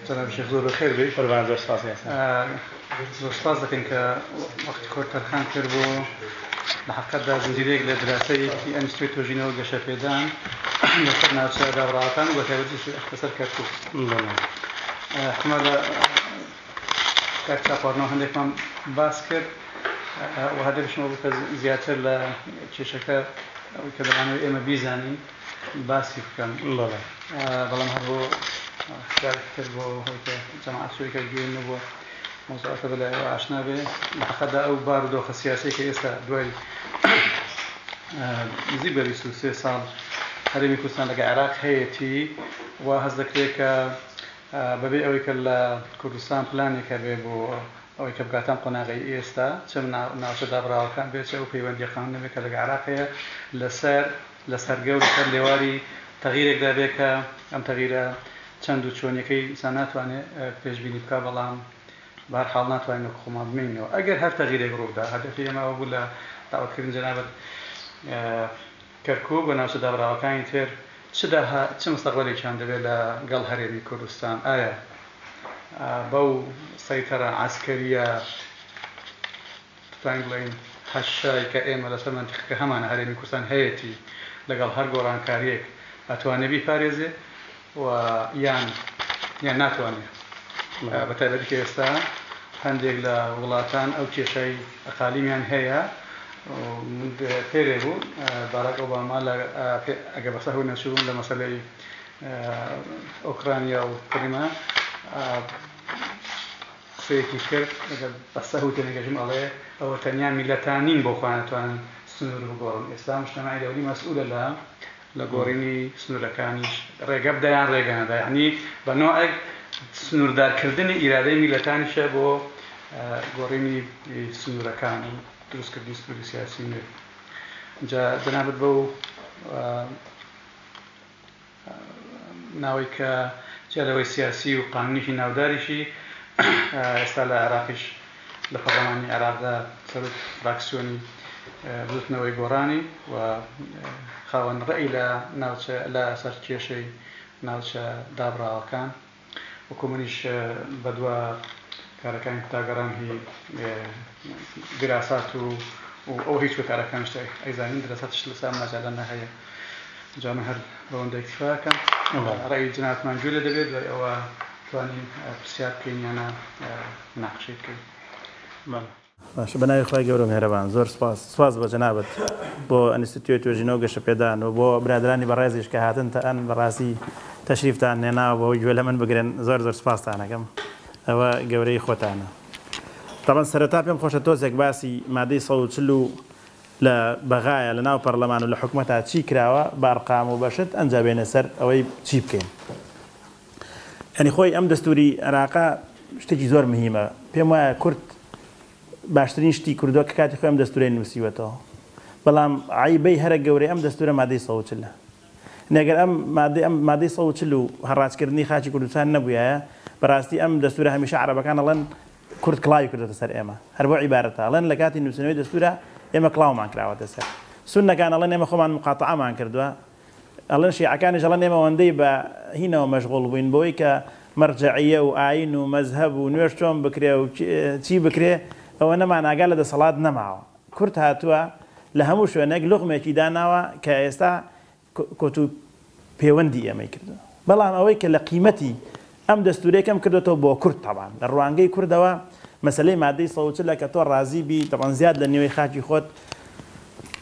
جناب شیخ زۆر بەخێر بێت قوربان زۆر سپاس زۆر سپاس دەکەین کە وەختی خۆت تەرخان کرد بۆ لە حقەتدا زنجیرێک لە دراسەیەکی ئەنستوی تۆژینەوە گەشە پێدان لەسەر ناوچە دابڕاوەکان و بەتایبەتیش ئەخپەسەر کەرکوک حکومە لە کاک چاپارنۆ هەندێکمان باس کرد و هەر دەبیشمەوە بوو کە زیاتر لە کێشەکە ئەوەی کە دەمانەوە ئێمە بیزانین باسی بکەم بەڵام هەر بۆ شارتر بۆ هەوی کە جەماعەت سوریکە گوێن نەبووە مۆزەکە بە لایەوە ئاشنا بێ لەقەدا ئەو بار و دۆخە سیاسی کە ئێستا دوای نزیک بە 23 ساڵ هەرێمی کوردستان لەگە عێراق هەیەتی و هەز دەکرێت کە بەبێ ئەوەی کە لە کوردستان پلانێک هەبێ بۆ ئەوەی کە بگاتە ئەم قۆناغەی ئێستا، چ ناوچە دابڕاوەکان بێ، چ ئەو پەیوەندییە قانونییە بێ کە لەگە عێراق هەیە، لەسەر لەسەر گەور لەسەر لێواری تەغیرێکدا بێ کە ئەم تەغیرە چەند و چۆنییەکەی ئینسان ناتوانێ پێشبینی بکا بەڵام بە هەر حاڵ ناتوانین وەکو خۆمان بمێنینەوە ئەگەر هەر تەغیرێک ڕووبدا هەدەفی ئێمە ئەوە بوو لە داوەتکردنی جەنابت کەرکوک و ناوچە دابڕاوەکانی تر چ داها چ مستەقبەلێکیان دەبێت لە گەڵ هەرێمی کوردستان؟ ئایا بەو سەیتەرە عەسکەرییە دەتوانین بڵێین هەشەی کە ئێمە لە سەر مەنتیقەکە هەمانە هەرێمی کوردستان هەیەتی لە گەڵ هەر گۆڕانکارییەک ئەتوانێت بیپارێزێت و یان یان ناتوانێ بە تایبەتی کە ئێستا هەندێک لە وڵاتان ئەو کێشای ئەقالیمیان هەیە من پێرێ بوو باراک ئۆباما ئەگە بەسە هەوی نەچوون لە مەسلەی ئۆکرانیا و کریمە قسەیەکی کرد ئەگە بەسە هەوی تێنەگەژم ئەڵێ ئەوە تەنیا میلەتانین بۆ خوانەتوانن سنوور بگۆڕن ئێستا مشتمای دەولی مەسئولە لە لە گۆڕینی سنوورەکانیش ڕێگە بدەیان ڕێگە نەدا، یەعنی بە نۆعێک سنووردارکردنی ئیرادەی میللەتانیشە بۆ گۆڕینی سنوورەکان و دروستکردنی سنووری سیاسی نوێ. جا جەنابت بەو ناوەی کە جیا لەوەی سیاسی و قانونیی ناوداریشی ئێستا لە عێراقیش لە پەڕلەمانی عێراقدا سەرۆکی فراکسیۆنی بزوتنەوەی گۆڕانی و خاوەن ڕێی لە ناوچە لە سەر کێشەی ناوچە دابڕاوەکان وەکو منیش بەدوا کارەکانی کوتا گەڕام هی دراسات و و ئەو هیچ کارەکانشت ئەیزانین دراساتش لەسام مەجالە نەهەیە جا من هەر بەوەندە اکتفاکەم ڕێی جناتمان گوێ لێ دەبێت دوای ئەوە توانین پرسیار بکەین یانە ناقشەی بکەین بەڵێ. باشە بەناوی خوای گەورەو میهرەبان زۆر سوپاس سوپاس بۆ جەنابت بۆ ئەنیستیتیۆی توێژینەوەو گەشەپێدان وبۆ برادەرانی بەڕێزیش کە هاتن تەئەن بەڕاستی تەشریفتان هێناوە بەوەی گوێ لەمن بگرن زۆر زۆر سوپاستان ئەکەم ئەوە گەورەیی خۆتانە تەبەن سەرەتا پێم خۆشە تۆزێک باسی مادەی سەد و چل و لە بەغایە لە ناو پەڕلەمان و لە حکومەتا چی کراوە بە ئەرقام و بە شت ئەنجا بێینە سەر ئەوەی چی بکەین یانی خۆی ئەم دەستوری عێراقە شتێکی زۆر مهیمە پێم وایە کورد باشترین شتی کردووە کە کاتی خۆی ئەم دەستورەی نووسیوەتەوە بەڵام عیبەی هەرە گەورەی ئەم دەستورە مادەی سەوچلە نەگەر ئەم مادەی ئەم مادەی سەوچل و هەڕاجکردنی خاچی کوردستان نەبووایە بەڕاستی ئەم دەستورە هەمیشە عربەکان ئەڵەن کورد کڵاوی کردوتە سەر ئێمە هەر بۆ عیبارەتە ئەڵەن لە کاتی نووسنەوەی دەستورە ئێمە کڵاومان کراوەتە سەر سونەکان ئەڵەن ئێمە خۆمان مقاتعمان کردووە ئەڵێن شیعەکانیش ئەڵێن ئێمە ئەوەندەی بە هینەوە مەشغوڵ بووین بەوەی کە مەرجەعیە و ئاین و مەزهەب و نوێژ چۆن بکرێ و چی بکرێ ئەوە نەمان ئاگا لە دەسەڵات نەماوە کورد هاتووە لە هەموو شوێنێک لوغمێکی داناوە کە ئێستا کۆت و پێوەندی ئێمەی کردووە بەڵام ئەوەی کە لە قیمەتی ئەم دەستورەی کەم کردۆتەوە بۆ کورد تەبان لە ڕوانگەی کوردەوە مەسەلەی مادەی سەد و چل ە کە تۆ ڕازی بی تەبان زیاد لە نیوەی خاکی خۆت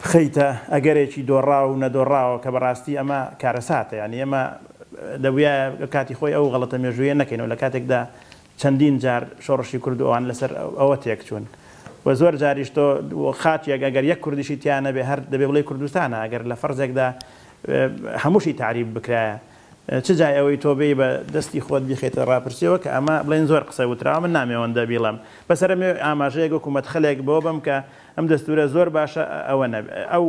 بخەیتە ئەگەرێکی دۆڕاو و نەدۆڕاوە کە بەڕاستی ئەمە کارەساتە یانی ئێمە دەبویایە لە کاتی خۆی ئەو غەڵەتە مێژویە نەکەینەوە لە کاتێکدا چەندین جار شۆڕشی کورد و ئەوان لەسەر ئەوە تێک چون و زۆر جاریش تۆ خاکێک ئەگەر یەک کوردیشی تیا نەبێ هەر دەبێ بڵێی کوردستانە ئەگەر لە فەرزێکدا هەموشی تەعریب بکرایە چ جای ئەوەی تۆ بێی بە دەستی خۆت بیخەیتە ڕاپرسیەوە کە ئەمە بڵێن زۆر قسە وتراوە من نامێوەندە بیڵێم بەس ئەرێ مەوێ ئاماژەیەک وەکو مەدخەلێک بەوە بەم کە ئەم دەستورە زۆر باشە ئەوە نەبێ ئەو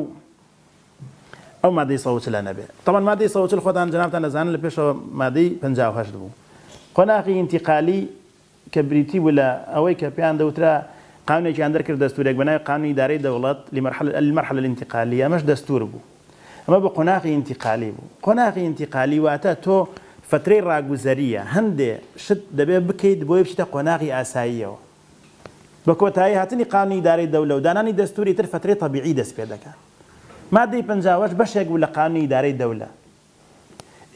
ئەو مادەی سەد و چل نەبێ تەبەن مادەی سەد و چل خۆتان جەنابتان دەزانن لە پێشەوە مادەی پەنجا و هەشت بوو قۆناغی ئینتیقالی کە بریتی بوو لە ئەوەی کە پێیان دەوترا قانونێکیان دەرکرد دەستورێک بەناوی قانونی ئیدارەی دەوڵەت لمرحلە المرحلە الانتقالیە ئەمەش دەستور بوو ئەمە بە قۆناغی ئینتیقالی بوو قۆناغی ئینتیقالی واتە تۆ فترەی ڕاگوزەریە هەندێ شت دەبێ بکەیت بۆی بچیتە قۆناغی ئاساییەوە بە کۆتایی هاتنی قانونی ئیدارەی دەولە و دانانی دەستوری تر فترەی تەبیعی دەست پێ دەکا مادەی پەنجا و هەشت بەشێک بوو لە قانونی ئیدارەی دەولە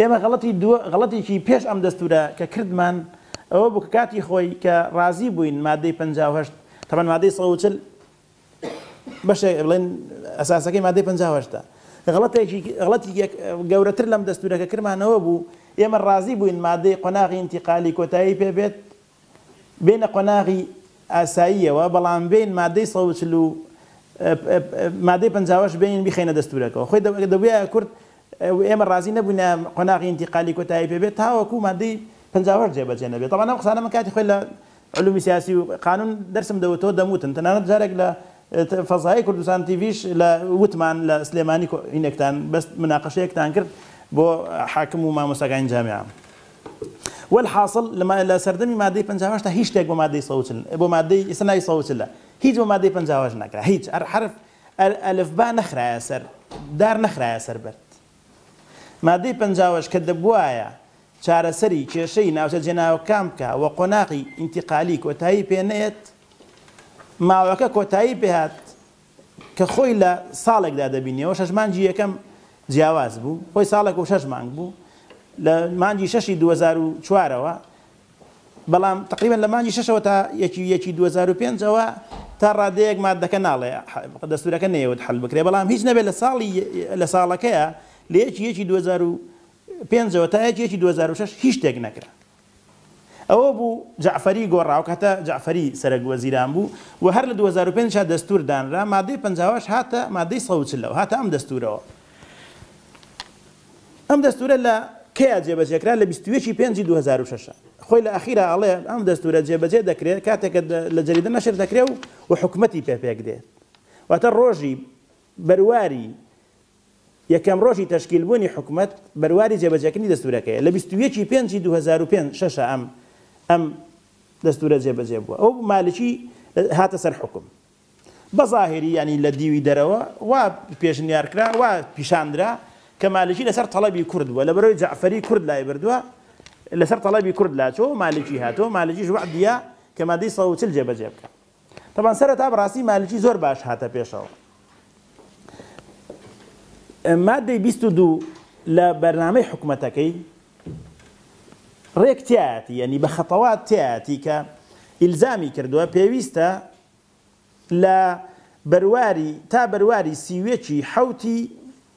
ئێمە غەڵەتی دوو غەڵەتێکی پێش ئەم دەستورە کە کردمان ئەوە بوو کە کاتی خۆی کە ڕازی بووین مادەی پەنجا و هەشت تەبەن مادەی سەد و چل بەشێ بڵێن ئەساسەکەی مادەی پەنجا و هەشتە غەڵەتێکی غەڵەتی یەک گەورەتر لەم دەستورە کە کرمانەوە بوو ئێمە ڕازی بووین مادەی قۆناغی ئینتیقالی کۆتایی پێ بێت بێنە قۆناغی ئاساییەوە بەڵام بێین مادەی سەد و چل و مادەی پەنجاوەش بێنین بیخەینە دەستورەکەوە خۆی دەبوایە کورد و ئێمە ڕازی نەبووینە قۆناغی ئینتیقالی کۆتایی پێ بێت تاوەکو مادەی پەنجاوەش جێبەجێ نەبێت تەبان ئەم قسانە من کاتی خۆی لە علومی سیاسی و قانون دەرسم دەوتەوە دەموتن تەنانەت جارێک لە فەزای کوردستان تیڤیش لە وتمان لە سلێمانی کۆینێکتان بەس مناقەشەیەکتان کرد بۆ حاکم و مامۆستاکانی جامعە وەلحاسڵ لە لە سەردەمی مادەی پەنجا و هەشت هیچ شتێک بۆ مادەی سەد و چل بۆ مادەی ئیستا ناوی سەد و چل ە هیچ بۆ مادەی پەنجا و هەشت نەکرا هیچ ئەر حەرف ئەر ئەلفبا نەخرایە سەر دار نەخرایە سەر بەرد مادەی پەنجا و هەشت کە دەبوایە چارەسەری کێشەی ناوچە جێناوەکان بکا و قۆناغی ئینتیقالی کۆتایی پێ نەیەت ماوەکە کۆتایی پێ هات کە خۆی لە ساڵێکدا دەبینیەوە شەش مانگی یەکەم جیاواز بوو خۆی ساڵێک و شەش مانگ بوو لە مانگی شەشی 2004ەوە بەڵام تقریبان لە مانگی شەشەوە تا یەکی یەکی 2005ەوە تا ڕادەیەک مادەکە ناڵێ دەستورەکە نەیەوت حل بکرێ بەڵام هیچ نەبێت لە ساڵی لە ساڵەکەیە لە یەکی یەکی 2005ەوە تا یەکی یەکی 2006 هیچ شتێک نەکرا ئەوە بوو جەعفەری گۆڕا، ئەوکاتە جەعفەری سەرەک وەزیران بوو و هەر لە دوو هەزار و پێنج دا دەستوور دانرا، مادەی پەنجا و هەشت هاتە مادەی سەد و چل و هاتە ئەم دەستوورەوە. ئەم دەستوورە لە کەیە جێبەجێ کرا؟ لە بیست و یەک ی پێنج ی دوو هەزار و شەش. خۆی لە ئاخیرا ئەڵێ ئەم دەستوورە جێبەجێ دەکرێ کاتێک کە لە جەریدە نەشر دەکرێ و حکومەتی پێ پێکدێت. واتە ڕۆژی بەرواری یەکەم ڕۆژی تەشکیل بوونی حکومەت بەرواری جێبەجێکردنی دەستورەکەیە لە بیست و یەک ی پێنج ی دوو هەزار و پێنج شەشە ئەم ئەم دەستورە جێبەجێ بووە و مالکی هاتە سەر حوکم بە زاهیری یانی لە دیوی دەرەوە وا پێشنیار کرا وا پیشان درا کە مالکی لەسەر تەڵەبی کورد بووە لەبەرەوەی جەعفەری کورد لای بردووە لەسەر تەڵەبی کورد لاچووە و مالکی هاتووە مالکیش وەعدیا کە مادەی سەد و چل جێبەجێ بکا. تەبعەن سەرەتا بەڕاستی مالکی زۆر باش هاتە پێشەوە مادەی بیست و دوو لە بەرنامەی حکومەتەکەی ڕێک تیاتی یعنی بە خەتەوات تیاتی کە ئیلزامی کردووە پێویستە لە بەرواری تا بەرواری سیوێکی حوتی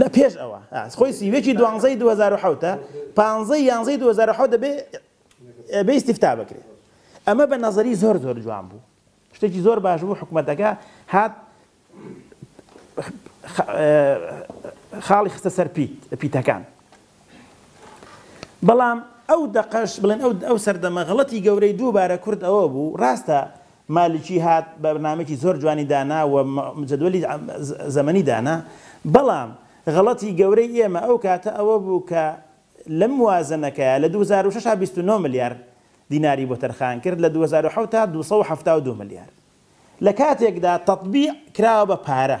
لە پێش ئەوە خۆی سی و یەکی دوانزەی دوو هەزار و حەوت ە پانزەی یانزەی دوو هەزار و حەوت دەبێ ئەبێ ئیستیفتا بکرێ ئەمە بە نەزەری زۆر زۆر جوان بوو شتێکی زۆر باش بوو حکومەتەکە هات خاڵی خستە سەر پیت پیتەکان بەڵام ئەو دەقەش، بڵێن ئەو ئەو سەردەمە غڵەتی گەورەی دووبارە کورد ئەوە بوو، ڕاستە مالکی هات بەرنامەیەکی زۆر جوانی دانا و جەدوەلی زەمەنی دانا، بەڵام غڵەتی گەورەی ئێمە ئەو کاتە ئەوە بوو کە لەم موازەنەکەیا لە دوو هەزار و شەش بیست و نۆ ملیار دیناری بۆ تەرخان کرد لە دوو هەزار و حەوت دوو سەد و حەفتا و دوو ملیار لە کاتێکدا تەتبیع کراوە بە پارە.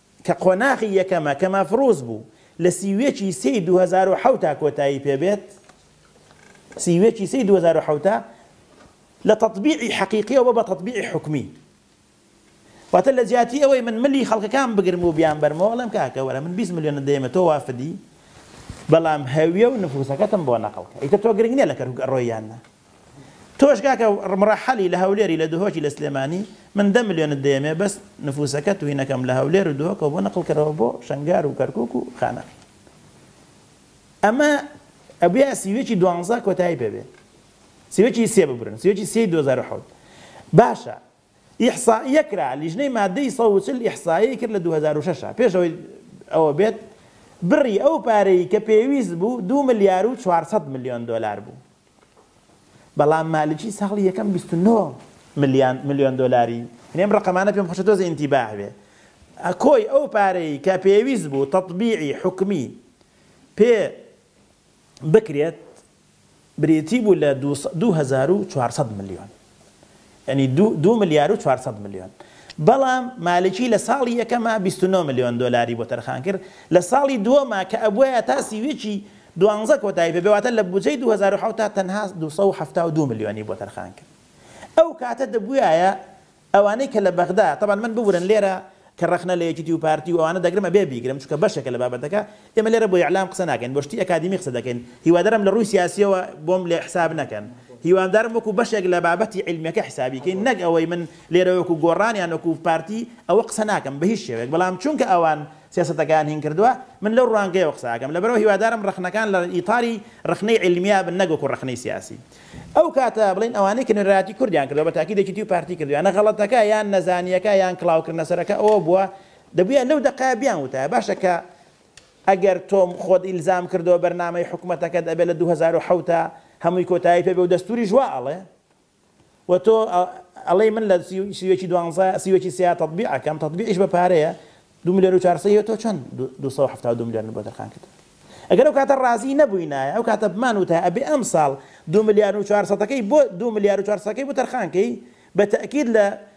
کە قۆناغی یەکەمە کە مەفروز بوو لە سی و یەک ی سێ ی دوو هەزار و حەوت کۆتایی پێ بێت، سی و یەک ی سێ ی دوو هەزار و حەوت لە تەتبیعی حەقیقیەوە بۆ بە تەتبیعی حوکمی. واتە لە جیاتی ئەوەی من ملی خەڵکەکان بگرم و بیانبەرمەوە ئەڵێم کاکە وەرە من بیست ملیۆنت دەیەمە تۆ وافدی بەڵام هەویە و نفوسەکەتم بۆ نەقڵکە ئیتر تۆ گرنگ نیە لە کەرکوک ئەڕۆی یان نا. تۆش کاکە مڕەحەلی لە هەولێری لە دهۆکی لە سلێمانی من دە ملیۆنت دەیەمێ بەس نفوسەکە توهینەکەم لە هەولێر و دهۆکەوە بۆ نقڵ کەرەوە بۆ شەنگار و کەرکوک و خانەقی ئەمە ئەبیا سیوێکی دوانزە کۆتایی پێبێ سیوێکی سێ ببرن سیوێکی سێ دو هەزار و حەوت باشە ئیحسائیە کرا لیژنەی مادەی سەد و چل ئیحسایی کرد لە دو هەزار و شەش پێش ئەوەی ئەوە بێت بڕی ئەو پارەی کە پێویست بوو دو ملیار و چوار سەد ملیۆن دۆلار بوو بەڵام مالکی ساڵی یەکەم بیست و نۆ ملیان ملیۆن دۆلاری یعنی ئەم ڕقەمانە پێم خۆشە تۆزێ ئینتیباه بێ کۆی ئەو پارەی کە پێویست بوو تەطبیعی حکومی پێ بکرێت بریتی بوو لە دوو هەزار و چوار سەد ملیۆن یانی دوو دوو ملیار و چوار سەد ملیۆن بەڵام مالکی لە ساڵی یەکەما بیست و نۆ ملیۆن دۆلاری بۆ تەرخان کرد لە ساڵی دووەما کە ئەبوایە تا سیویەکی دوانزە کۆتایی پێ بێ واتە لە بودجەی دوو هەزار و حەوت تا تەنها دوو سەد و حەفتا و دوو ملیۆنی بۆ تەرخان کرد ئەو کاتە دەبوایە ئەوانەی کە لە بەغدا تەبەن من ببورن لێرە کە ڕەخنە لە یەکیتی و پارتی و ئەوانە دەگرم ئەبێ بیگرم چونکە بەشێکە لە بابەتەکە ئێمە لێرە بۆ ئیعلام قسە ناکەین بۆ شتی ئەکادیمی قسە دەکەین هیوادارم لە ڕووی سیاسیەوە بۆم لێ حساب نەکەن هیوادارم وەکو بەشێک لە بابەتی عیلمیەکە حسابی کەین نەک ئەوەی من لێرە وەکو گۆڕان یان وەکو پارتی ئەوە قسە ناکەم بە هیچ شێوەیەک بەڵام چونکە ئەوان سیاسەتەکەیان هین کردوە من لەو ڕوانگەیەوە قسە ئەکەم لەبەرئەوە هیوادارم ڕەخنەکان لە ئیتاری ڕەخنەی عیلمیە بن نەک وەکو ڕەخنەی سیاسی ئەو کاتە بڵێن ئەوانەی کە نوێنەرایەتی کوردیان کردوە بە تاکید یەکیتی و پارتی کردویانە غەڵەتەکە یان نەزانیەکە یان کڵاوکردنەسەرەکە ئەوە بوە دەبوایە لەو دەقەیە بیانوتایە باشە کە ئەگەر تۆم خۆت ئیلزام کردەوە بەرنامەی حکومەتەکەت ئەبێ لە دوو هەزار و حەوت هەمووی کۆتایی پێبێ و دەستوریش وا ئەڵێ و تۆ ئەڵێی من لە سیوێکی دوانزە سیوێکی سیا تەطبیع ئەکەم تەطبیعیش بە پارەیە دوو ملیۆن و چارسەی تۆ چەند دوو سەد و حەفتا و دوو ملیۆن بۆ تەرخان کردووە ئەگەر ئەو کاتە ڕازی نەبووینایە ئەو کاتە بمان وتە ئەبێ ئەم ساڵ دوو ملیار و چوار سەدەکەی بۆ دوو ملیار و چوار سەدەکەی بۆ تەرخانکەی بە تەئکید لە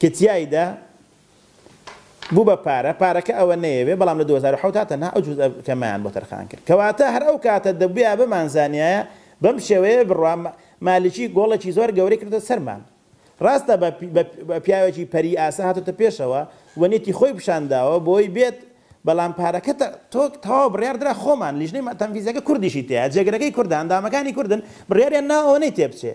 کە تیایدا بوو بە پارە، پارەکە ئەوە نەیەوێ، بەڵام لە دوو هەزار و حەوت دا تەنها ئەو جوزئە کەمەیان بۆ تەرخان کرد. کەواتە هەر ئەو کاتە دەبوویا بمانزانیایە بەم شێوەیە بڕوا مالیکی گۆڵێکی زۆر گەورەی کردۆتە سەرمان. ڕاستە بە پیاوێکی پەری ئاسا هاتۆتە پێشەوە و نیەتی خۆی پیشان داوە بۆی بێت، بەڵام پارەکە تەواو بڕیار درا خۆمان، لیژنەی تەنفیزیەکە کوردیشی تیایە، جێگرەکەی کوردە، ئەندامەکانی کوردن، بڕیاریان ناوە ئەوە نەیتێ بچێ.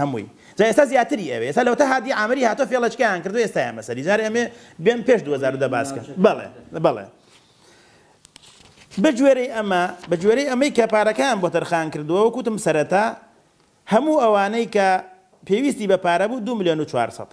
هەمووی جا ئێستا زیاتری ئەوێ ئێستا لەوەتا هادی عامری هاتوە فێڵەچکەیان کردوە ئێستایان بەسەری جار ئەمێ بێن پێش دوو هەزار و دە باسکەن بەڵێ بەڵێ بەگوێرەی ئەمە بەگوێرەی ئەمەی کە پارەکەیان بۆ تەرخان کردووە وەکوتم سەرەتا هەموو ئەوانەی کە پێویستی بە پارە بوو دو ملیۆن و چوار سەد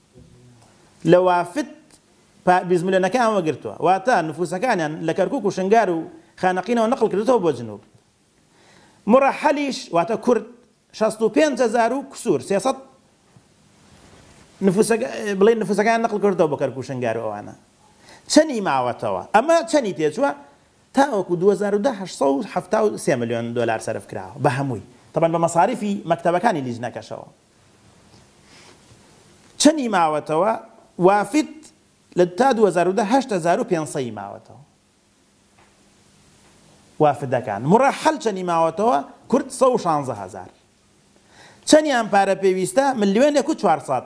لە وافد پا بیزملێنەکەیان وەگرتووە، واتە نفووسەکانیان لە کەرکووک و شنگار و خانەقینەوە نەقڵ کردۆتەوە بۆ جنووب. مڕەحەلیش، واتە کورد، شەست و پێنج هەزار و کسوور، سێ سەد، نفووسەک، بڵێین نفووسەکانیان نەقڵ کردۆتەوە بۆ کەرکووک و شنگار و ئەوانە چەنی ماوەتەوە؟ ئەمە چەنی تێ چووە؟ تاوەکوو دوو هەزار و دە هەشت سەد و حەفتا و سێ ملیۆن دۆلار سەرف کراوە بە هەمووی، تەبەن بە مەساریفی مەکتەبەکانی لیجنەکەشەوە. چەنی ماوەتەوە وافد لە تا دوو هەزار و دە هەشت هەزار و پێنج سەی ماوەتەوە وافدەکان مڕەحەل چەنی ماوەتەوە کورد سەد و شانزە هەزار چەنیان پارە پێویستە ملیۆنێک و چوار سەد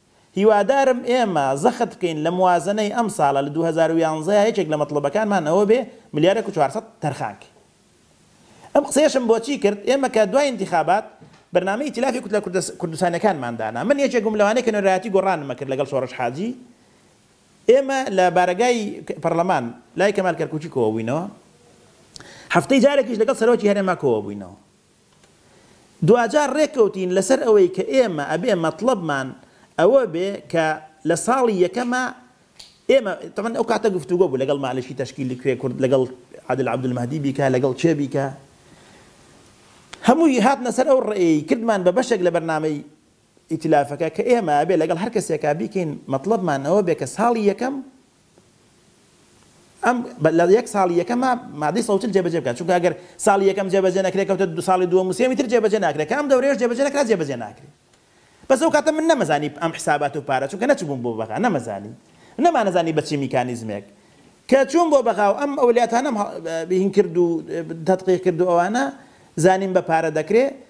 هیوادارم ئێمە زەخت بکەین لە موازەنەی ئەمساڵە لە دوو هەزار و یانزە یەکێک لە مەتڵەبەکانمان ئەوە بێ ملیارێک و چوار سەد تەرخانکەین ئەم قسەیەشم بۆچی کرد ئێمە کە دوای ئینتیخابات بەرنامەی ئیتیلافی کوتلە کوردستانیەکانمان دانا من یەکێک بووم لەوانەی کە نوێنەرایەتی گۆڕانم کرد لەگەڵ سۆڕش حاجی ئێمە لە بارەگای پەڕلەمان لای کەمال کەرکوکی کۆبووینەوە هەفتەی جارێکیش لەگەڵ سەرۆکی هەرێما کۆبووینەوە. دواجار رێکەوتین لەسەر ئەوەی کە ئێمە ئەبێ مەتڵەبمان ئەوە بێ کە لە ساڵی یەکەما ئێمە تەبەن ئەو کاتە گفتوگۆ بوو لەگەڵ مالکی تەشکیلی کوێ کورد لەگەڵ عادل عەبدولمەهدی بیکا لەگەڵ کێ بیکا هەمووی هاتنە سەر ئەو ڕێیەی کردمان بە بەشێک لە بەرنامەی ئیتلافەکە کە ئێمە ئەبێ لەگەڵ هەر کەسێکا بیکەین مەتڵەبمان ئەوە بێ کە ساڵی یەکەم ئەم لە یەک ساڵی یەکەما مادەی سەوتل جێبەجێ بکات چونکە ئەگەر ساڵی یەکەم جێبەجێ نەکرێت کەوتە دو ساڵی دووەم و سێمی تر جێبەجێ ناکرێت کە ئەم دەورەیەش جێبەجێ نەکرا جێبەجێ ناکرێت بەس ئەو کاتە من نەمەزانی ئەم حسابات و پارە چونکە نەچبووم بۆ بەغا نەمەزانی نەمانەزانی بە چی میکانیزمێک کە چووم بۆ بەغا و ئەم ئەولیاتانم هین کرد و تەتقیق کرد و ئەوانە زانیم بە پارە دەکرێت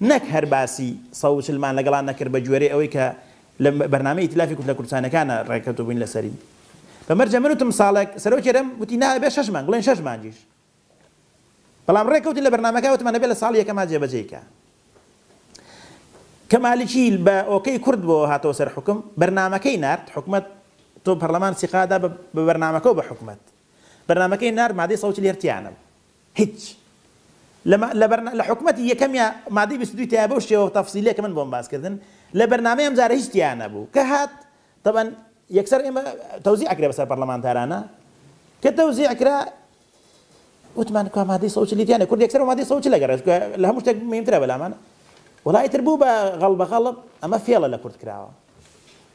نەک هەر باسی سەد و چل مان لەگەڵا نەکرد بە گوێرەی ئەوەی کە لە بەرنامەی ئیتلافی کوتلە کوردستانیەکانا ڕێککەوتوو بووین لە سەری بە مەرجە من وتم ساڵێک سەرۆکی هەرێم وتی نا ئەبێ شەش مانگ بڵێن شەش مانگیش بەڵام ڕێککەوتین لە بەرنامەکە وتمان ئەبێ لە ساڵی یەکەما جێبەجێی کا کە مالکی بە ئۆکەی کورد بۆ هاتەوە سەر حکم بەرنامەکەی نارد حکومەت تۆ پەرلەمان سیقادا بە بەرنامەکە و بە حکومەت بەرنامەکەی نار مادەی سەوتی لێرتیانە بوو هیچ لە لە بەرنا لە حکومەتی یەکەمیا مادەی بیست و دووی تایە بەو شێوە تەفسیلەیە کە من بۆم باس کردن لە بەرنامەی ئەم جارە هیچ تیا نەبوو کە هات تەبەن یەکسەر ئێمە تەوزیع کرێ بەسەر پەرلەمانتارانە کە تەوزیع کرا وتمان کوا مادەی سەوت لیتیانە کورد یەکسەر مادەی سەوت لە گەڕێش لە هەموو شتێک مهمترە بەلامانە وڵایتر بوو بە غەڵ بە غەڵب ئەمە فێڵە لە کورد کراوە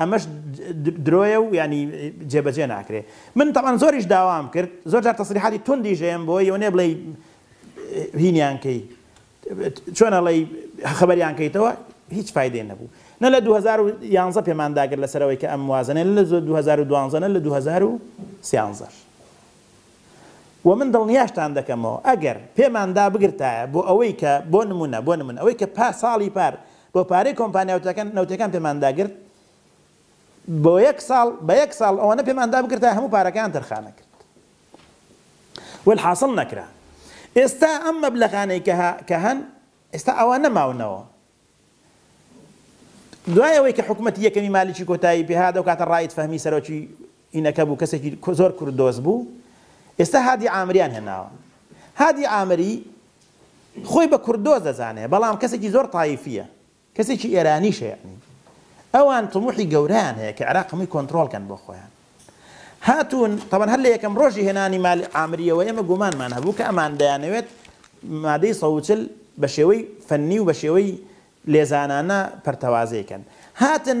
ئەمەش درۆیە و یانی جێبەجێ ناکرێ من تەبعەن زۆریش داوام کرد زۆر جار تەسریحاتی توندیش هەیەم بۆ یەونێ بڵێی هینیان کەی چۆن ئەڵێی خەبەریان کەیتەوە هیچ فایدەی نەبوو نە لە 2011 پێمان داگر لەسەرەوەی کە ئەم موازنە لە 2012 نە لە 2013 و من دڵنیاشتان دەکەمەوە ئەگەر پێماندا بگرتایە بۆ ئەوەی کە بۆ نمونە بۆ نمونە ئەوەی کە پار ساڵی پار بۆ پارەی کۆمپانیا وتەکان نەوتیەکان پێمان داگرت بۆ یەک ساڵ بە یەک ساڵ ئەوەنە پێمان دابگرت تا هەموو پارەکەیان تەرخانە کرد والحاصل نەکرا ئێستا ئەم مەبلەغانەی کە کە هەن ئێستا ئەوان نەماونەوە دوای ئەوەی کە حکوومەت یەکەمی مالیکی کۆتایی پێهادا و کاتە ڕایت فەهمی سەرۆکی ئینەکە بوو کەسێکی زۆر کوردۆز بوو ئێستا هادی ئامریان هێناوە هادی ئامری خۆی بە کوردۆز دەزانێ بەڵام کەسێکی زۆر تایفیە کەسێکی ئێرانیشە یەعنی ئەوان تموحی گەورەیان هەیە کە عێراق هەمووی کۆنترۆڵ کەن بۆ خۆیان هاتوون تەبەن هەر لە یەکەم ڕۆژی هێنانی مال عامریەوە ئێمە گومانمان هەبوو کە ئەمان دەیانەوێت مادەی سەوچل بە شێوەی فەنی و بە شێوەی لێزانانە پەرتەوازەی کەن هاتن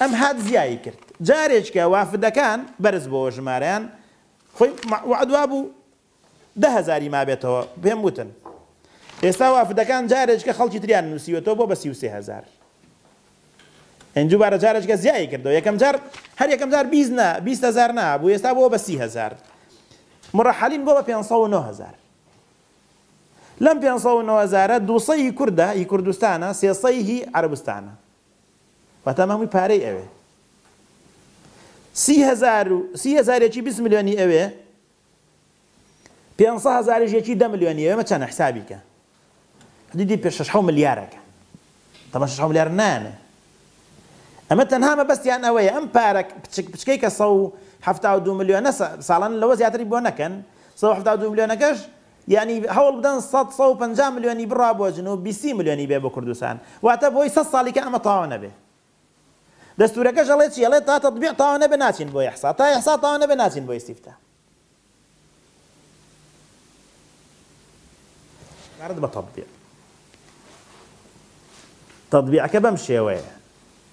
ئەم هات زیایی کرد جارێککە وافدەکان بەرز بۆوە ژمارەیان خۆی وەعد وابوو دە هەزاری مابێتەوە پێم وتن ئێستا وافدەکان جارێککە خەڵکی تریان نووسیوەتەوە بۆ بە سی و سێ هەزار ئەنجو بارە جارێککە زیایی کردەوە یەکەم جار هەر یەکەم جار بیست نا بیست هەزار نا بوو ئێستا بۆ بە سی هەزار مڕەحەلین بۆ بە پێنج سەد و نۆ هەزار لەم پێنج سەد و نۆ هەزارە دوو سەدی کوردە هی کوردستانە سێ سەدی هی عەرەبستانە واتە ئەمە هەمووی پارەی ئەوێ سی هەزار و سی هەزار یەکی بیست ملیۆنی ئەوێ پێنج سەد هەزاریش یەکی دە ملیۆنی ئەوێ مە چەنە حسابی کە حدودی پێ شەش حەو ملیارەکە تەمە شەش حەو ملیار نانێ ئەمە تەنها مەبەستیان ئەوەیە ئەم پارە بچک بچکەی کە سەد و حەفتا و دوو ملیۆنە ساڵان لەوە زیاتری بۆ نەکەن سەد و حەفتا و دوو ملیۆنەکەش یانی هەوڵ بدەن سەد سەد و پەنجا ملیۆنی بڕا بۆ جنوب بیسی ملیۆنی بێ بۆ کوردستان واتە بۆی سەد ساڵی کە ئەمە تاوا نەبێ دەستورەکەش ئەڵێ چی ئەڵێ تا تەتبیع تاوا نەبێ ناچین بۆ ئیحسا تا ئیحسا تاوا نەبێ ناچین بۆ ئیستیفتا عبارەت بە تەتبیع تەتبیعەکە بەم شێوەیە.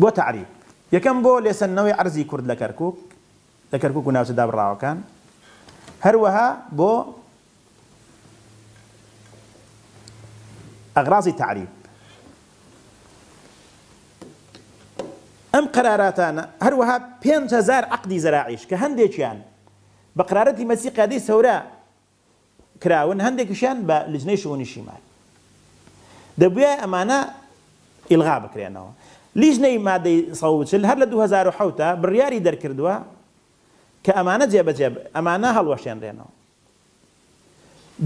بۆ تەعریب یەکەم بۆ لێسەندنەوەی عەرزی کورد لە کەرکوک لە کەرکوک و ناوچە دابڕاوەکان هەروەها بۆ ئەغرازی تەعریب ئەم قەراراتانە هەروەها پێنج هەزار عەقدی زەراعیش کە هەندێکیان بە قەرارەتی مەسی قیادەی سەورە کراون هەندێکیشیان بە لجنەی شئونی شیمال دەبوایە ئەمانە ئیلغا بکرێنەوە لیژنەی مادەی سەد و چل هەر لە دوو هەزار و حەوت بڕیاری دەرکردووە کە ئەمانە جێبەجێ ئەمانە هەڵوەشێنرێنەوە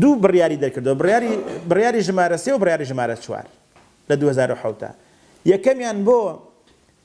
دوو بڕیاری دەرکردەوە بڕیاری بڕیاری ژمارە سێ و بڕیاری ژمارە چوار لە دوو هەزار و حەوت یەکەمیان بۆ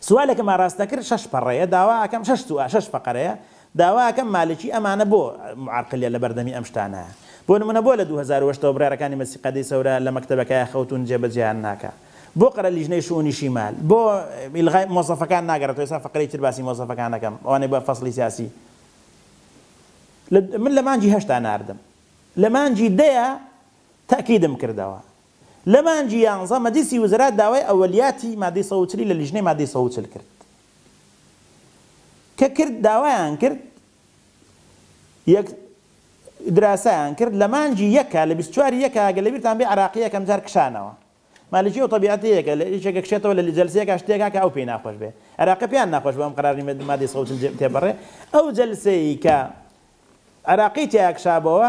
سوالەکم ئاراستە کرد شەش پەڕەیە داوا ئەکەم شەش سوا شەش فەقەرەیە داوا ئەکەم مالکی ئەمانە بۆ معرقلیە لەبەردەمی ئەم شتانە بۆ نمونە بۆ لە دوو هەزار و هەشت ەوە بڕیارەکانی مەجلسی قادەی سەورە لە مەکتەبەکایە خەوتون جێ بەجێیان ناکا بۆ قەرە لیژنەی شئونی شیمال بۆ ئیلغای مۆزەفەکان ناگەرێتەوە ئێستا فەقرەی تر باسی مۆزەفەکان ئەکەم ئەوانەی بە فەسڵی سیاسی من لە مانگی هەشتا ناردم لە مانگی دەیا تەئکیدم کردەوە لە مانگی یانزە مەجلیسی وزرا داوای ئەوەلیاتی مادەی سەد و چل ی لە لیژنەی مادەی سەد و چل کرد کە کرد داوایان کرد یەک دراسەیان کرد لە مانگی یەکە لە بیست و چوار ی یەکە گەر لەبیرتان بێ عراقی یەکەم جار کشانەوە مالکی ئەو تەبیعەتی هەیە کە لە یەکێکە کشێتەوە لە جەلسەیەکا شتێک هەکا ئەو پێی ناخۆش بێ عراقی پێیان ناخۆش بوو ئەم قەرار نیە مادەی سەد و چل تێپەڕێ ئەو جەلسەی کە عراقی تیا کشابەوە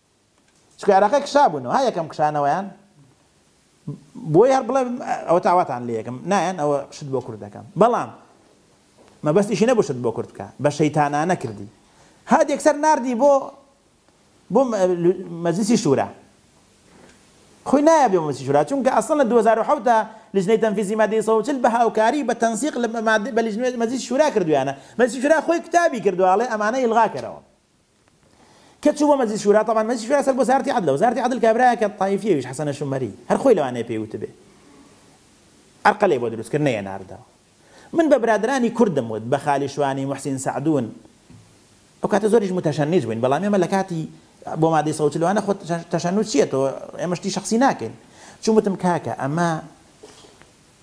چونکە عێراقییەک کشابوونەوە ها یەکەم کشانەوەیان بۆی هەر بڵێ ئەوە تاواتان لێ یەکەم نایەن ئەوە شت بۆ کورد دەکەم بەڵام مەبەستیشی نەبوو شت بۆ کورد بکە بە شەیتانانە کردی هاد یەکسەر ناردی بۆ بۆ مەجلسی شورا خۆی نایە بێ مەجلسی شورا چونکە ئەسڵ لە 2007 دا لجنەی تەنفیزی مادەی سەوچل بە هاوکاری بە تەنسیق لە مادە بە لجنەی مەجلسی شورا کردویانە مەجلسی شورا خۆی کتابی کردوواڵێ ئەمانە ئیلغا کەرەوە کە چوو بۆ مەجلیس شورا تەبان مەجلیس شورا سەر بۆزارتی عەدلە وزارتی عەدل کابرایەکە طایفی ئەویش حەسەنە شومەری هەر خۆی لەوانەیە پێی وتبێ ئەرقەلێ بۆ دروست کرد نەیەناردەوە من بە برادرانی کوردم وت بە خالی شوانی محسین سعدون ئەو کاتە زۆریش متەشەنج بووین بەڵام ئێمە لە کاتی بۆ مادەی سەوت لەوانە خۆ تەشەنوچیە تۆ ئێمە شتی شخصی ناکەین چوومتم کاکە ئەمە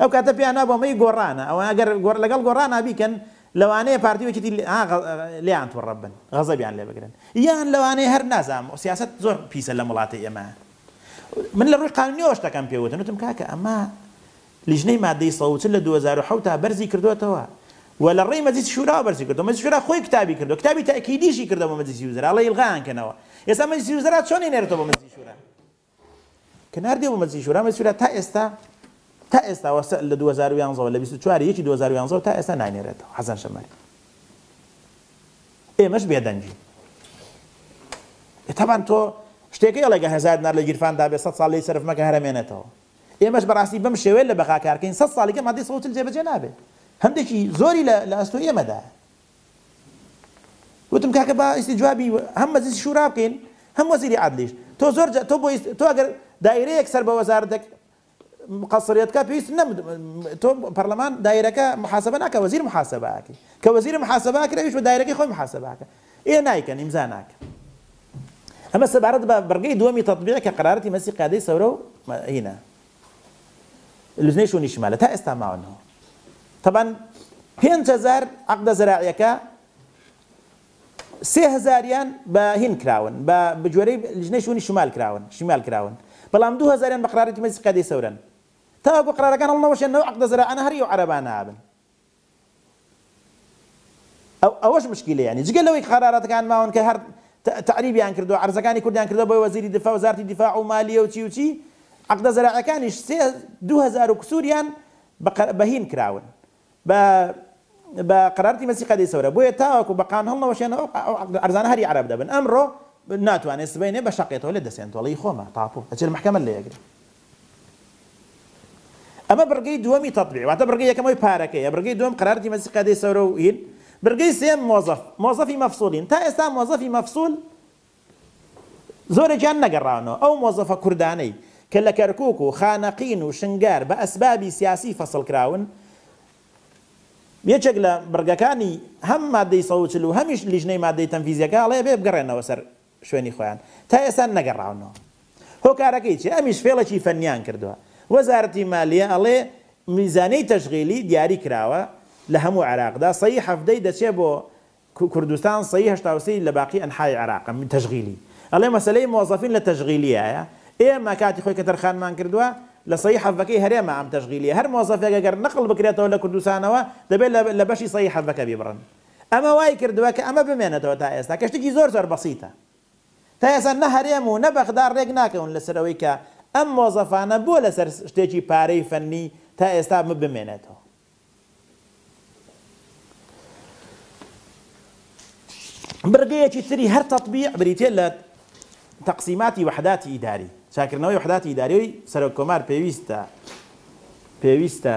ئەو کاتە پێیان نابوو ئەمەی گۆڕانە ئەوە ئەگەر گۆڕ لەگەڵ گۆڕانا بیکەن لەوانەیە پارتی و یەکێتی لێیان توڕە بن غەزەبیان لێ بگرن یان لەوانەیە هەر نازانم سیاسەت زۆر پیسە لەم وڵاتەی ئێمە من لە ڕووی قانونیەوە شتەکەم پێ وتم وتم کاکە ئەمە لیژنەی مادەی سەد و چل لە دوو هەزار و حەوت تا بەرزی کردووەتەوە و لە ڕێی مەجلیسی شورا بەرزی کردووە مەجلیسی شورا خۆی کتابی کردووە کتابی تەئکیدیشی کردەوە مەجلیسی وزرا ئەڵێ ئیلغایان کەنەوە ئێستا مەجلیسی وزرا چۆن دێنێرێتەوە بۆ مەجلیسی شورا کە ناردیە بۆ مەجلیسی شورا، مەجلیسی شورا تا ئێستا تا ئێستا وە سە لە دوو هەزار و یانزە وە لە بیست و چوار ی یەکی دوو هەزار و یانزە وە تا ئێستا ناینێرێتەوە حەسەن شەمەری. ئێمەش بێدەنگین. تەبان تۆ شتێکە ئەڵێگە هەزار دینار لە گیرفاندا بێ سەد ساڵ لێی سەرف مەکە هەر ئەمێنێتەوە. ئێمەش بەڕاستی بەم شێوەیە لە بەغا کار کەین سەد ساڵیکە مادەی سەد و چل جێبەجێ نابێ. هەندێکی زۆری لە لە ئەستۆی ئێمەدایە. وتم کاکە با ئیستی جوابی هەم مەجلیسی شورا بکەین هەم وەزیری عەدلیش تۆ زۆر جا تۆ بۆ ئیست تۆ ئەگەر دایرەیەک سەر بە وەزارەتەک قەسریت کا پێویست نەم تۆ پەرلەمان دایرەکە محاسبە ناکە وەزیر محاسبە ئەکەی کە وەزیر محاسبە ئەکرێ ئەویش بە دایرەکەی خۆی محاسبە ئەکە ئێ نایکەن ئیمزا ناکەن ئەمە سەبارەت بە بڕگەی دووەمی تەتبیع کە قەرارەتی مەجلیسی قیادەی سەورە و هینا لوتنەی شونی شمالە تا ئێستا ماون هەو تەبان پێنج هەزار عقدە زەراعیەکە سێ هەزاریان بە هین کراون بە بجوێرەی لژنەی شونی شمال کراون شمال کراون بەڵام دو هەزاریان بە قرارێکی مەجلس قیادەی سەورەن تاوەکو قرارەکان هەڵنەوەشێنەوە عقدە زەراعانە هەر ئیو عەرەبانە ئابن ئەو ئەوەش مشکیلە یانی جگە لەوەی کە قەراراتەکان ماون کە هەر تە تەعریبیان کردوە عەرزەکانی کوردیان کردوە بۆ وەزیری دفا وەزارتی دفاع و مالیە و چی و چی عەقدە زەراعیەکانیش سێ دوو هەزار و کسوریان بە قە بە هین کراون بە بە قەرارتی مەسی قەدەی سەورە بۆیە تاوەکو بە قان هەڵنەوەشێنەوە ئەو عەقدە عەرزانە هەر ی عەرەب دەبن ئەمڕۆ ناتوانێ سبەینێ بە شەقێتەوە لێت دەسێن تۆڵەی خۆمە تاپۆ ئەچێ لە مەحکەمەت لێ ئەگرێ ئەمە بڕگەی دووەمی تەتبیع واتە بڕگەی یەکەم ئەوی پارەکەیە بڕگەی دووەم قەرار دیمەزی قەدەی سەورە و هین بڕگەی سێیەم مۆزەف مۆزەفی مەفسوولین تا ئێستا مۆزەفی مەفسوول زۆرێکیان نەگەڕاونەوە ئەو مۆزەفە کوردانەی کە لە کەرکووک و خانەقین و شنگار بە ئەسبابی سیاسی فەسڵ کراون یەکێک لە بڕگەکانی هەم مادەی سەد و چل و هەمیش لیژنەی مادەی تەنفیزیەکە ئەڵێ بێ بگەڕێنەوە سەر شوێنی خۆیان تا ئێستا نەگەڕاونەوە هۆکارەکەی چیە ئەمیش فێڵێکی فەنیان کردوە وەزارەتی مالیە ئەڵێ میزانەی تەشغیلی دیاری کراوە لە هەموو عێراقدا سەی حەڤدە ی دەچێ بۆ کوردستان سەی هەشتا و سێ ی لە باقی ئەنحای عێراقە تەشغیلی ئەڵێ مەسەلەی مۆزەفین لە تەشغیلیایە ئێمە کاتی خۆی کە تەرخانمان کردوە لە سەی حەڤەکەی هەرێمە ئەم تەشغیلیە هەر مۆزەفێک گەر نەقڵ بکرێتەوە لە کوردستانەوە دەبێ لە بەشی سەی حەڤەکە بیبڕن ئەمە وای کردووە کە ئەمە بمێنێتەوە تا ئێستا کە شتێکی زۆر زۆر بەسیتە. تا ئێستا نە هەرێم و نە بەغدا رێک ناکەون لەسەر ئەوەی کە ئەم مۆزەفانە بۆ لەسەر شتێکی پارەی فەنی تا ئێستا بمێنێتەوە. بڕگەیەکی تری هەر تەتبیع بریتیە لە تەقسیماتی وەحداتی ئیداری، چاکردنەوەی وەحداتی ئیداری سەرۆک کۆمار پێویستە پێویستە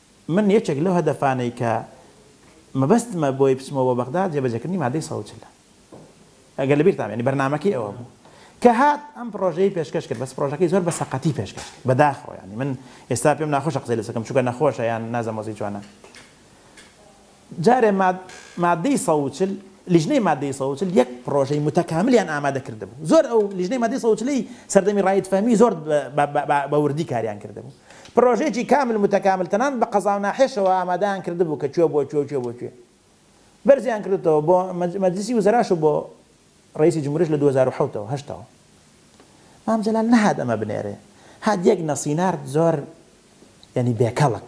من یەکێک لەو هەدەفانەی کە مەبەستمە بۆی بچمەوە بۆ بەغداد جێبەجێکردنی مادەی سەد و چل ە ئەگەر لە بیرتان بێ یانی بەرنامەکەی ئەوە بوو کە هات ئەم پڕۆژەی پێشکەش کرد بەس پڕۆژەکەی زۆر بە سەقەتی پێشکەش کرد بە داخەوە یانی من ئێستا پێم ناخۆشە قسەی لەسەکەم چونکە نەخۆشە یان نازەم وەزعی چۆنە. جارێ ماد مادەی سەد و چل لیژنەی مادەی سەد و چل یەک پڕۆژەی متەکاملیان ئامادە کردبوو زۆر ئەو لیژنەی مادەی سەد و چل ی سەردەمی ڕائید فەهمی زۆر بە بە بە بە وردی کاریان کردبوو پڕۆژەیەکی کامل متەکامل تەنانەت بە قەزاو ناحێشەوە ئامادەیان کردبوو کە کوێ بۆ کوێ و کوێ بۆ کوێ بەرزیان کردۆتەوە بۆ مەج مەجلیسی وزەراش و بۆ ڕەیسی جمهوریش لە دوو هەزار و حەوت ەوە هەشتەوە مام جەلال نەهات ئەمە بنێرێ هات یەک نەسینارد زۆر یانی بێ کەڵک.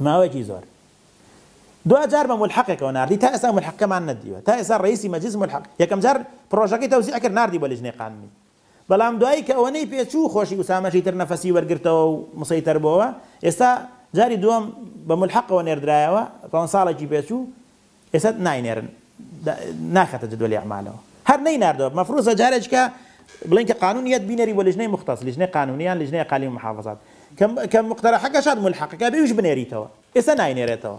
ماوەیەکی زۆر دو جار بە ملحقێکەوە ناردی تا ئێستا ملحقەکەمان نەدیوە تا ئێستا ڕئیسی مەجلیس ملحق یەکەم جار پڕۆژەکەی تەوزیع کرد ناردی بۆ لیجنەی قانونی بەڵام دوایی کە ئەوەنەی پێچوو خۆشی ئوسامەشی تر نەفەسی وەرگرتەوە و مسەیتەر بۆوە ئێستا جاری دووەم بە ملحقەوە نێردرایەوە پەنج ساڵێکی پێچوو ئێستا ناینێرن ناخاتە جدوەلی ئەعمالەوە هەر نەیناردوە مەفروزە جارێکیکە بڵێن کە قانون یەت بینێری بۆ لیژنەی موختەس لیژنەی قانونی یان لیژنەی ئەقالیم و محافزات کە کە موقتەرەحەکە شاد مولحەقەکە بێ ئەویش بنێریتەوە ئێستا ناینێرێتەوە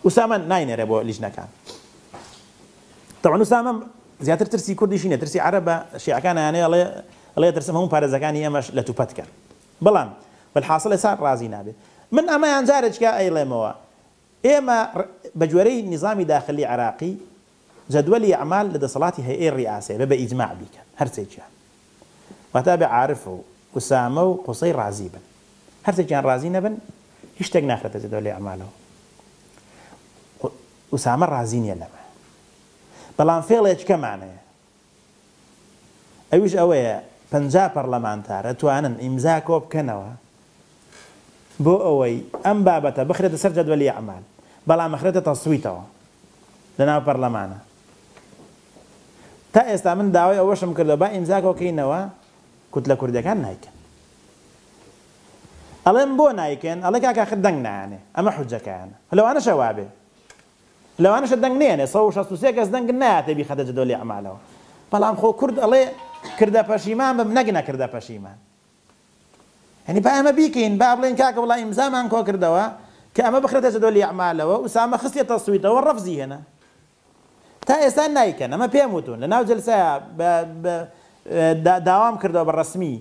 ئوسامە ناینێرێ بۆ لیژنەکان تەوان ئوسامە زیاتر ترسی کوردیشی نیە ترسی عەرەبە شیعەکان یانەیە ئەڵێ ئەڵێ ترسم هەموو پارێزەکانی ئێمەش لە توپەتکەن بەڵام بەلحاصل ئێستا ڕازی نابێت من ئەمەیان جارێکیکە ئەیڵێمەوە ئێمە بە گوێرەی نیزامی داخلی عێراقی جەدوەلی ئەعمال لە دەسەڵاتی هەیئەی ریاسەیە بە بە ئیجماع بیکەن هەر سێکیان واتا بێ عارف و ئوسامە و قوسەی رازی بن هەر سێکیان رازی نەبن هیچ شتێک ناخرێتە جەدوەلی ئەعمالەوە ئوسامە رازی نیە لەمە بەڵام فێڵێچکەمانەیە ئەویش ئەوەیە پەنجا پەڕلەمانتار ئەتوانن ئیمزا کۆبکەنەوە بۆ ئەوەی ئەم بابەتە بخرێتە سەر جەدوەلی ئەعمال بەڵام ئەخرێتە تەسویتەوە لە ناو پەڕلەمانە تا ئێستا من داوای ئەوەشم کردەوە با ئیمزا کۆکەینەوە کوتلە کوردیەکان نایکەن ئەڵێم بۆ نایکەن ئەڵێ کاکە خە دەنگ نایانێ ئەمە حجەکەیانە هەلەوانەشە وابێ لەوانەشە دەنگ نەیەنێ سەد و شەست و سێ کەس دەنگ نایاتێ بیخەتە جەدۆلی ئەعمالەوە بەڵام خۆ کورد ئەڵێ کردە پەشیمان بم نەک نەکردە پەشیمان یعنی با ئەمە بیکەین با بڵێین کاکە وڵا ئیمزامان کۆ کردەوە کە ئەمە بخرێتە جەدۆلی ئەعمالەوە ئوسامە خستیە تەسویتەوە ڕەفزی هێنا تا ئێستا نایکەن ئەمە پێم وتون لەناو جلسەیە بە داوام کردەوە بە ڕسمی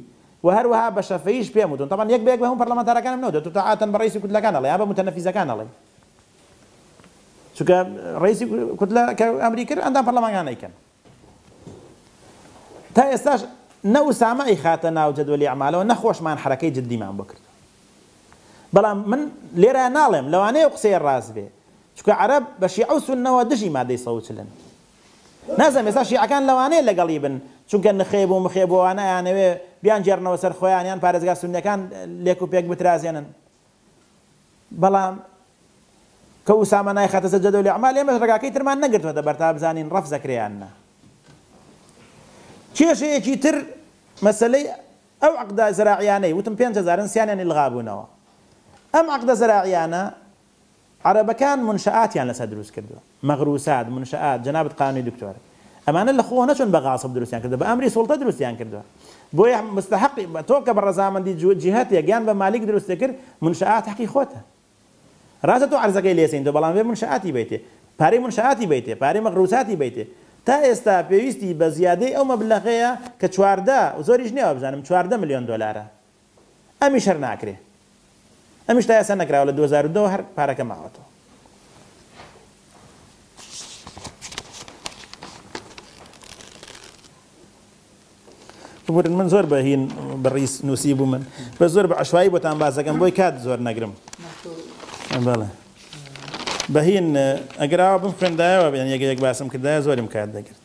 و هەروەها بە شەفەیش پێم وتون تەمان یەک بەیەک بە هەموو پەرلەمانتارەکانم نەوتێت تو تاعاتەن بە ڕیسی کوتلەکان ئەڵێ یا بە متەنەفیزەکان ئەڵێ چونکە ڕئیسی کوتلە کە ئەمری کرد ئەندام پەرلەمانگان ئەیکەن تا ئێستاش نە ئوسامە ئەیخاتە ناو جەدوەلی ئەعمالەوە نە خۆشمان حرەکەی جددیمان بۆ کرد بەڵام من لێرە ناڵێم لەوانەیە قسەیە ڕاست بێ چونکە عەرەب بە شیعە و سوننەوە دژی مادەی سەوچلن نازم ێستا شیعەکان لەوانەیە لەگەڵی بن چونکە نخێب و مخێب وانە یانەوێ بیان جێرنەوە سەر خۆیانیان پارێزگا سونەکان لێک و پێک بترازێنن بەڵام کە ئوسامە نایخاتە سەر جەدۆلی ئەعمال ئێمەش ڕێگاکەی ترمان نەگرتۆتە بەر تا بزانین ڕەفز ئەکرێ یان نا. کێشەیەکی تر مەسەلەی ئەو عەقدە زەراعیانەی وتم پێنج هەزارن سیانیان ئیلغابوونەوە ئەم عەقدە زەراعیانە عەرەبەکان منشآتیان لەسەر دروست کردووە مغروسات منشآت جەنابت قانونی دکتۆر ئەمانە لەخۆوە نەچوون بە غاصب دروستیان کردووە بە ئەمری سوڵتە دروستیان کردووە بۆیە مستحقی تۆ کە بە ڕەزامەندی جیهەتێک یان بە مالیک دروستت کرد منشآت حەقی خۆتە ڕاستە تۆ عەرزەکەی لێ سەندووە بەڵام ئەبێ منشآتی بەیتێ پارەی منشآتی بەیتێ پارەی مغروساتی بەیتێ تا ئێستا پێویستی بە زیادەی ئەو مەبلەغەیە کە چواردە زۆریش نییە وابزانم چواردە ملیۆن دۆلارە. ئەمیش هەر ناکرێ ئەمیش تا ئێستا نەکراوە لە دوو هەزار و دە وە هەر پارەکە ماوەتەوە. ببورن من زۆر بە هین بەڕیز نووسی بوو من بە زۆر بە عشوایی بۆتان بازەکەم بۆی کات زۆر نەگرم بەڵێ بەهین ئەگەراوە بم خوێندایەوە بێن یەگە یەک باسم کردایە زۆرم کات دەگرت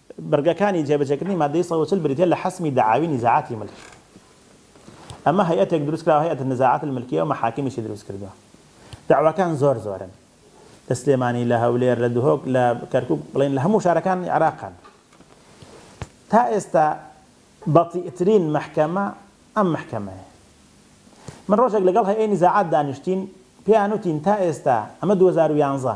بڕگەکانی جێبەجێکردنی ماددەی سەد و چل بریتیە لە حەسمی دەعاوی نیزاعاتی ملکی. ئەمە هەیئەتێک دروستکراوە هەیئەت النزاعات الملکیە و مەحاکمیشی دروستکردوە. دەعواکان زۆر زۆرن. لە سلێمانی، لە هەولێر، لە دهۆک، لە کەرکوک، بڵێین لە هەموو شارەکانی عێراقن. تا ئێستا بەتیئترین مەحکەمە ئەم مەحکەمەیە. من ڕۆژێک لەگەڵ هەیئەی نیزاعات دانیشتین، پێیان وتین تا ئێستا، ئەمە دوو هەزار و یانزە،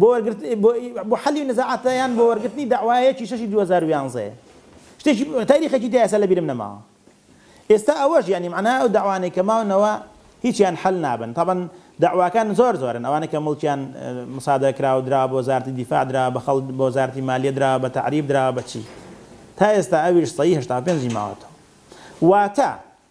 بۆ وەرگرت بۆ بۆ حەلی نزاعاتە یان بۆ وەرگرتنی دەعوایەکی شەشی دوو هەزار و یانزە شتێکی تاریخێکی تیا ئێستا لەبیرم نەماوە ئێستا ئەوەش یانی مەعنا ئەو دەعوانەی کە ماونەوە هیچیان حەل نابن طبعا دەعواکان زۆر زۆرن ئەوانە کە مڵکیان مسادە کراوە دراوە بۆ وەزارەتی دیفاع دراوە بە خەڵک بۆ وەزارەتی مالیە دراوە بە تەعریب دراوە بە چی تا ئێستا ئەویش سەی هەشتا و پێنجی ماوەتەوە واتە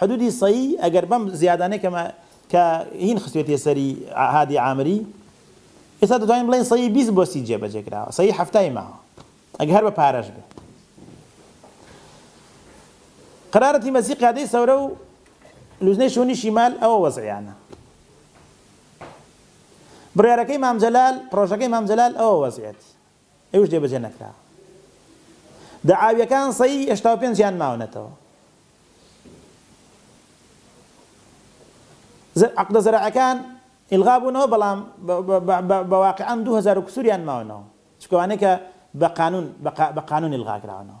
حدودی سەی ئەگەر بەم زیادانەی کە کە هین خستوێتیە سەری هادی عامری ئێستا دەتوانین بڵێن سەی بیست بۆ سی جێبەجێ کراوە سەی هەفتای ماوە ئەگە هەر بە پارەش بێ قرارەتی مەسی قادەی سەورە و لوزنەی شوونی شیمال ئەوە وەزعیانە بڕارەکەی مامجلال پرۆژەکەی مامجلال ئەوە وەزعێتی ئەویش جێ بەجێ نەکرا. دەعاویەکان سەیی هەشتا و پێنج یان ماونەتەوە. زە عەقدە زەرعەکان ئیلغا بوونەوە بەڵام بە بە بە بە بە واقیعەن دوو هەزار و کسوور یان ماونەوە چکە وانەیە کە بە قانوون بە قا بە قانوون ئیلغا کراونەوە.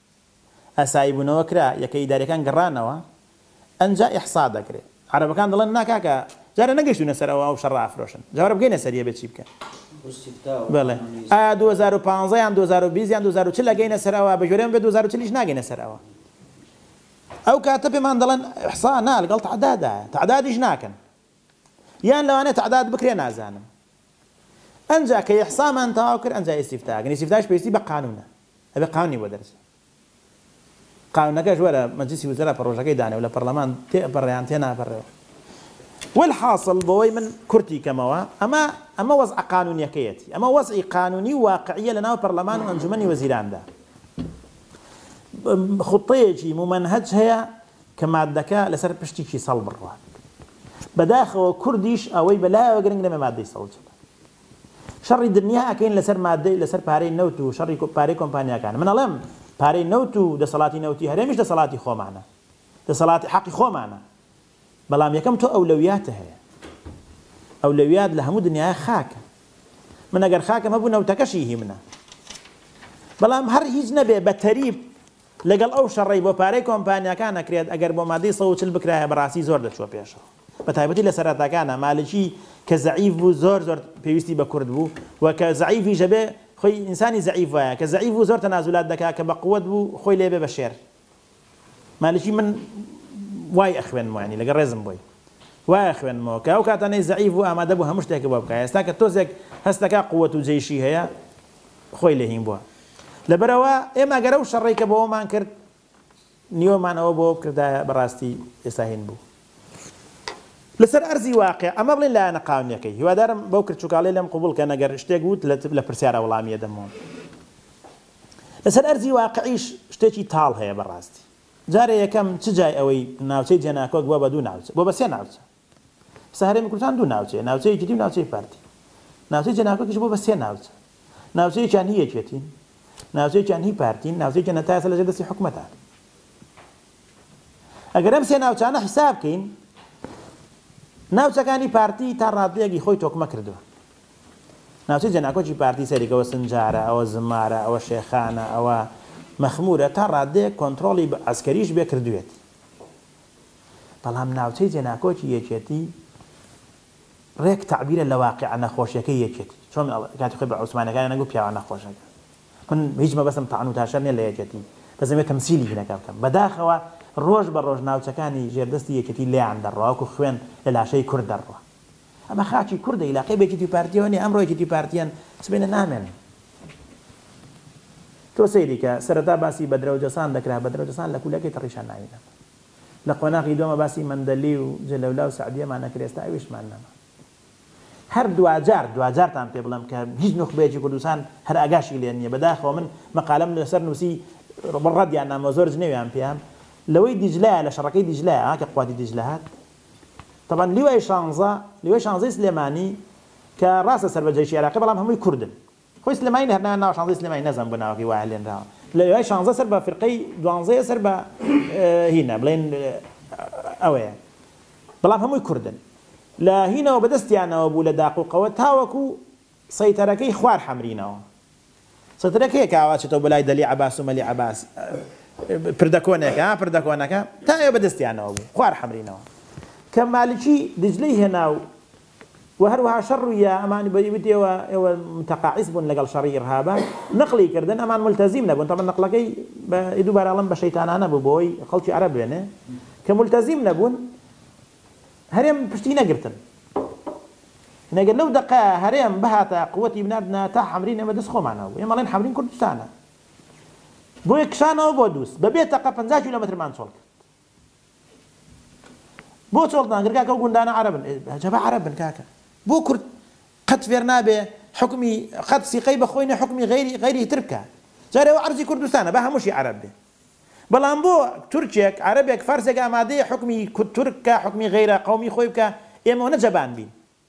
ئاسایی بونەوە کرا یەکە ئیداریەکان گەڕانەوە ئەنجا ئیحصا دەکرێ عەرەبەکان دەڵێن نا کاکە جارێ نەگەشتونە سەر ئەوە ئەو شەڕە ئەفرۆشن جا وەرە بگەینە سەری ئەبێ چی بکەن بەڵێ ئایا دوو هەزار و پازدە یان دوو هەزار و بیست یان دوو هەزار و چل ئەگەینە سەر ئەوە بەگوێرەی من بێ دوو هەزار و چل یش ناگەینە سەر ئەوە ئەو کاتە پێمان دەڵێن ئیحصا نا لەگەڵ تەعدادا تەعدادیش ناکەن یان لەوانەیە تەعداد بکرێ نازانم ئەنجا کە ئیحصامان تەواو کرد ئەنجا ئیستیفتا ئەکەن ئیستیفتاش پێویستی بە قانونە ئەبێ قانونی بۆ دەرچێ قانونەکەش وەرە مەجلیسی وزرا پڕۆژەکەی دانێ و لە پەڕلەمان تێ ئەپەڕێ یان تێ ناپەڕێ و والحاصل بۆوەی من کورتی کەمەوە ئەمە ئەمە وەزعە قانونیەکەیەتی ئەمە وەزعی قانونی و واقعیە لەناو پەڕلەمان و ئەنجومەنی وەزیراندا خوتەیەکی ممەنهەج هەیە کە مادەکە لەسەر پشتیکی سەڵ بڕوات بەداخەوە کوردیش ئەوەی بەلایەوە گرنگ نەبێ مادەی سەڵ چێت شەڕی دنیا ئەکەین لەسەر مادەی لەسەر پارەی نەوت و شەڕی پارەی کۆمپانیاکان من ئەڵێم پارەی نەوت و دەسەڵاتی نەوتی هەرێمیش دەسەڵاتی خۆمانە دەسەڵاتی حەقی خۆمانە بەڵام یەکەم تۆ ئەولەویاتە هەیە ئەولەویات لە هەموو دنیاە خاکە من ئەگەر خاکەم هەبوو نەوتەکەشی هی منە بەڵام هەر هیچ نەبێ بە تەریب لەگەڵ ئەو شەڕەی بۆ پارەی کۆمپانیاکان ئەکرێت ئەگەر بۆ مادەی سەد و چل بکرایە بەڕاستی زۆر دەچووە پێشەوە بەتایبەتی لە سەرەتاکانا مالکی کە زەعیف بوو زۆر زۆر پێویستی بە کورد بوو و کە زەعیفیش ئەبێ خۆی ئینسانی زەعیف وایە کە زەعیف بوو زۆر تەنازولات دەکا کە بە قوەت بوو خۆی لێ بێ بە شێر مالکی من وای ئەخوێنمەوە یانی لەگەڵ ڕێزم بۆی وای ئەخوێنمەوە کە ئەو کاتانەی زەعیف بوو ئامادە بوو هەموو شتێکە بۆ بکا ئێستا کە تۆزێک هەست دەکا قوەت و جەیشی هەیە خۆی لە هین بووە لەبەرئەوە ئێمە گەر ئەو شەڕەی کە بۆمان کرد نیوەمان ئەوە بۆ بکردایە بەڕاستی ئێستا هین بوو لەسەر ئەرزی واقع ئەمە بڵێن لایەنە قاونیەکەی هیوادارم بەو کرچوکاڵی لەم قوبول کە نەگەر شتێک وت لە پرسیارە وڵامیە دەمەوە لەسەر ئەرزی واقعیش شتێکی تاڵ هەیە بەڕاستی جارێ یەکەم چ جای ئەوەی ناوچەی جێناکۆک بووە بە دوو ناوچە بۆ بە سێ ناوچە ئێستا هەرێمی کوردستان دوو ناوچەیە، ناوچەی یەکێتی و ناوچەی پارتی. ناوچەی جەنابکەش بووە بە سێ ناوچە. ناوچەیەکیان هی یەکێتین، ناوچەیەکیان هی پارتین، ناوچەیەکیان هەتا ئێستا لەژێر دەستی حکومەتان. ئەگەر ئەم سێ ناوچانە حیساب بکەین، ناوچەکانی پارتی تا ڕادەیەکی خۆی تۆکمە کردووە. ناوچەی جەناکۆکی پارتی سەیری کە ئەوە سنجارە، ئەوە زمارە، ئەوە شێخانە، ئەوە مەخموورە، تا ڕادەیەک کۆنترۆڵی بە عەسکەریش بێ کردوویەتی. بەڵام ناوچەی جێناکۆکی یەکێتی ڕێک تەعبیرە لە واقیع نەخۆشیەکەی یەکێتی چۆن کاتی خۆی بە عوسمانیەکانیان نەگوت پیاوە نەخۆشەکان من هیچ مەبەستم تەعن و تاشەر نیە لە یەکێتی بەس دەمەوێت تەمسیلی هینەکە بکەم بەداخەوە ڕۆژ بە ڕۆژ ناوچەکانی ژێردەستی یەکێتی لێیان دەڕوا وەکو خوێن لە لاشەی کورد دەڕوا ئەمە خاکی کوردە ئیلاقەی بە یەکێتی و پارتیەوە نیە ئەمڕۆ یەکێتی و پارتیان سبەینە نامێنن تۆ سەیری کە سەرەتا باسی بەدرەوجەسان دەکرا بەدرەوجەسان لە کولەکەی تەڕیشان ناوی نەبوو. لە قۆناغی دووەمە باسی مەندەلی و جەلەولا و سەعدیەمان ئەکرد ئێستا ئەویشمان نەما هەر دواجار دواجارتان پێ بڵێم کە هیچ نوخبەیەکی کوردستان هەر ئاگاشی لێ نییە بەداخەوە من مەقالەم لەسەر نووسی ڕەدیان نامەوە زۆر جنێویان پێیان لەوەی دیجلایە لە شەڕەکەی دیجلایە ها کە قواتی دیجلە هات طبعا لیوای شانزە لیوای شانزەی سلێمانی کە ڕاستە سەر بە جەیشی عێراقی بەڵام هەمووی کوردن خۆی سلێمانی هەر نایان ناوە شانزەی سلێمانی نازانم بۆ ناوەکەی وا لێنراوە لە وای شانزە سەر بە فرقەی دوانزەیە سەر بە هینا بڵێن ئەوەیە بەڵام هەمووی کوردن لە هینەوە بەدەستیانەوە بوو لە داقوقەوە تاوەکو سەیتەرەکەی خوار حەمرینەوە سەترەکەیە کاوا چێتەوە بۆ لای دەلی عەباس و مەلی عەباس پردەکۆنێکە پردەکۆنەکە تا ئێوە بەدەستیانەوە بوو خوار حەمرینەوە کە مالکی دجلەی هێنا و و هەروەها شەر ڕوییا ئەمان بەی وت ئێوە ئێوە متقاعس بون لەگەڵ شەڕی ئیرهابا نقلی کردن ئەمان ملتزیم نەبون تەبەن نقلەکەی بە دوبارە ئەڵێم بە شەیتانانە بو بۆ ئەوەی خەڵکی عەرەب بێنێ کە ملتزیم نەبون هەرێم پشتی نەگرتن یعنی گەر لەو دەقە هەرێم بهاتە قوتی بنادنا تا حەمرین ئێمە دەست خۆمانە بو ئێمە ئەڵێن حەمرین کوردستانە بۆیە کشانەوە بۆ دوس بە بێ تەقە پەنجا کیلۆمەترمان چۆڵ کرد بۆ چۆڵت ناکرد کاکە ئەو گوندانە عەرەبن ئەجەبە عەرەب بن کاکە بۆ کورد قەت فێر نابێ حوکمی قەت سیقەی بە خۆی نە حوکمی غەیری غەیری تر بکا جارێ ئەوە عەرزی کوردستانە با هەمووشی عەرەب بێ بەڵام بۆ تورکێک عەرەبێک فارسێک ئامادەیە حوکمی کورد تورک کا حوکمی غەیرە قەومی خۆی بکا ئێمە نەجەبان بین.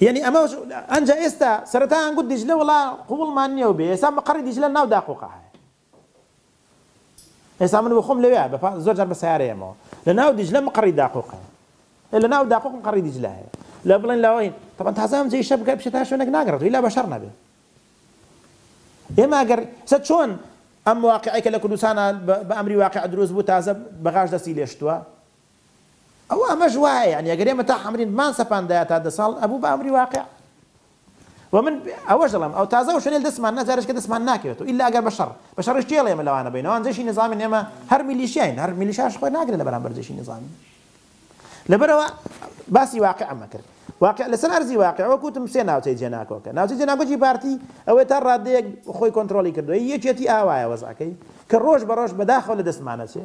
یعنی ئەمە ئەنج ئێستا سەرەتایان گوت دیجلە وڵا قوڵمان نییە و بێ ئێستا مەقڕی دیجلە ناو داقۆقە هەیە ئێستا من بخۆم لەوێ بە زۆر جار بە سیارەیەمەوە لە ناو دیجلە مقڕی داقۆقە لە ناو داقۆق مقڕی دیجلە هەیە لە بڵێن لەوەین تەبەن تازام جێ شە بگە بچێت تا شوێنێک ناگەڕێت ویلا بەشەر نەبێ ئێمە ئەگەر سە چۆن ئەم واقعەکە لە کوردستانە بە ئەمری واقع دروست بوو تازە بەغاش دەستی لێشتووە ئەوە ئەمەش وایە یانی ئەگەر ئێمە تا حەمرین بمان سەپاندایە تا دە ساڵ ئەبوو بە ئەمری واقع و من ئەوەش دەڵێم ئەو تازە ئەو شوێنەی لە دەستمان نا جارێکە دەستمان ناکەوێتەوە ئیلا ئەگەر بە شەڕ بە شەڕیش تێڵێ ئێمە لەوانە بین ئەوان جەیشی نیزامین ئێمە هەر میلیشیاین هەر میلیشاش خۆی ناگرێت لە بەرامبەر جەیشی نیزامین لەبەرەوە باسی واقعمە کرد واقع لەسەر ئەرزی واقع وەکوتم سێ ناوچەی جێناکۆکە ناوچەی جێناکۆکی پارتی ئەوەی تا ڕادەیەک خۆی کۆنتترۆلی کردووە یەکێتی ئاوایە وەزعەکەی کە ڕۆژ بە ڕۆژ بەداخەوە لە دەستمانەچێ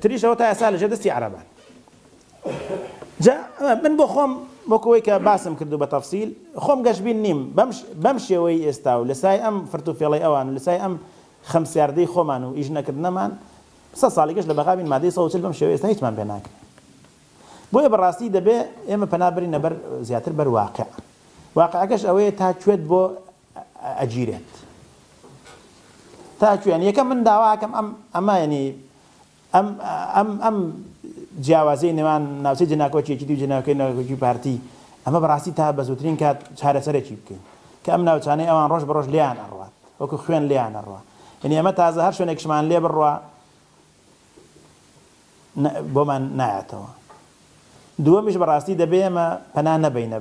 تریش ئەوە تا ئێستا لەژێر دەستی عەرەبان. جا من بۆ خۆم وەکو ئەوەی کە باسم کردوو بە تەفسیل، خۆم گەشبین نیم بەم بەم شێوەی ئێستا و لە سای ئەم فرت و فێڵەی ئەوان و لە سای ئەم خەمسیاردەی خۆمان و ئیش نەکردنەمان سەد ساڵیکش لە بەغا بین مادەی سەد و چل بەم شێوەی ئێستا هیچمان پێ ناکرێ. بۆیە بە ڕاستی دەبێ ئێمە پەنا بەرینە بەر زیاتر بەر واقع. واقعەکەش ئەوەیە تا کوێت بۆ ئەگیرێت تا کوێن یەکەم من داواکەم ئەم ئەمە ینی ئەم ئەم ئەم جیاوازی نێوان ناوچەی جناکۆچێکی دی جناکەی ناکۆکی پارتی ئەمە بەڕاستی تا بە زووترین کات چارەسەرێکی بکەین کە ئەم ناوچانەی ئەوان ڕۆژ بە ڕۆژ لیان ئەڕات وەکو خوێن لیان ئەڕوە یعنی ئەمە تازە هەر شوێنێکشمان لێ بڕە بۆمان نایاتەوە دووەمیش بەڕاستی دەبێ ئێمە پەنا نەبەینە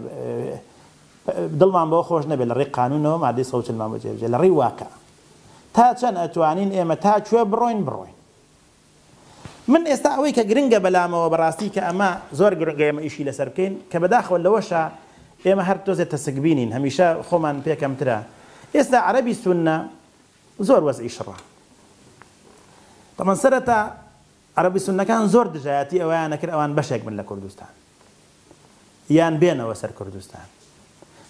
دڵمان بەوە خۆش نەبێت لە ڕێی قانونەوە مادەی سەد و چلمان بۆ جێبجێ لە ڕێی واقع تا چەند ئەتوانین ئێمە تا کوێ بڕۆین بڕۆین من ئێستا ئەوەی کە گرنگە بەلامەوە بەڕاستی کە ئەمە زۆر گرنگە ئێمە ئیشی لەسەر بکەین کە بەداخەوە لەوەشە ئێمە هەر تۆزێ تەسکبینین هەمیشە خۆمان پێکەمترە ئێستا عەربی سونە زۆر وەزعی شڕە تەمان سەرەتا عەرەبی سونەکان زۆر دژایەتی ئەوەیان ئەکرد ئەوان بەشێک بن لە کوردستان یان بێنەوە سەر کوردستان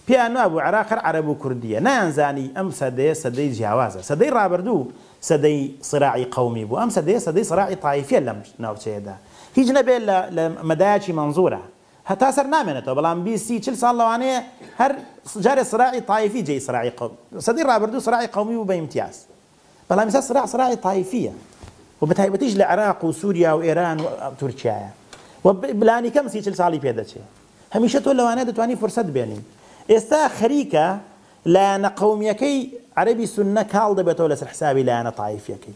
پێیان وابوو عێراق هەر عەرەب و کوردییە نایانزانی ئەم سەدەیە سەدەی جیاوازە سەدەی ڕابردوو سەدەی سراعی قەومی بوو ئەم سەدەیە سەدەی سراعی تایفیە لەم ناوچەیەدا هیچ نەبێت لە مەدایەکی مەنزورە هەتا سەر نامێنێتەوە بەڵام بیست سی چل ساڵ لەوانەیە هەر جارێ سراعی تایفی جێی سراعی قەومی سەدەی ڕابردوو سراعی قەومی بوو بە ئیمتیاز بەڵام ئیستا سراع سراعی تایفیە و بە تایبەتیش لە عێراق و سووریا و ئێران و تورکیایە و بلانی کەم سی چل ساڵی پێدەچێ هەمیشە تۆ لەوانەیە دەتوانی فرسەت بێنی ئێستا خەریکە لایەنە قەومیەکەی عەرەبی سوننە کاڵ دەبێتەوە لەسەر حسابی لایەنە تایفیەکەی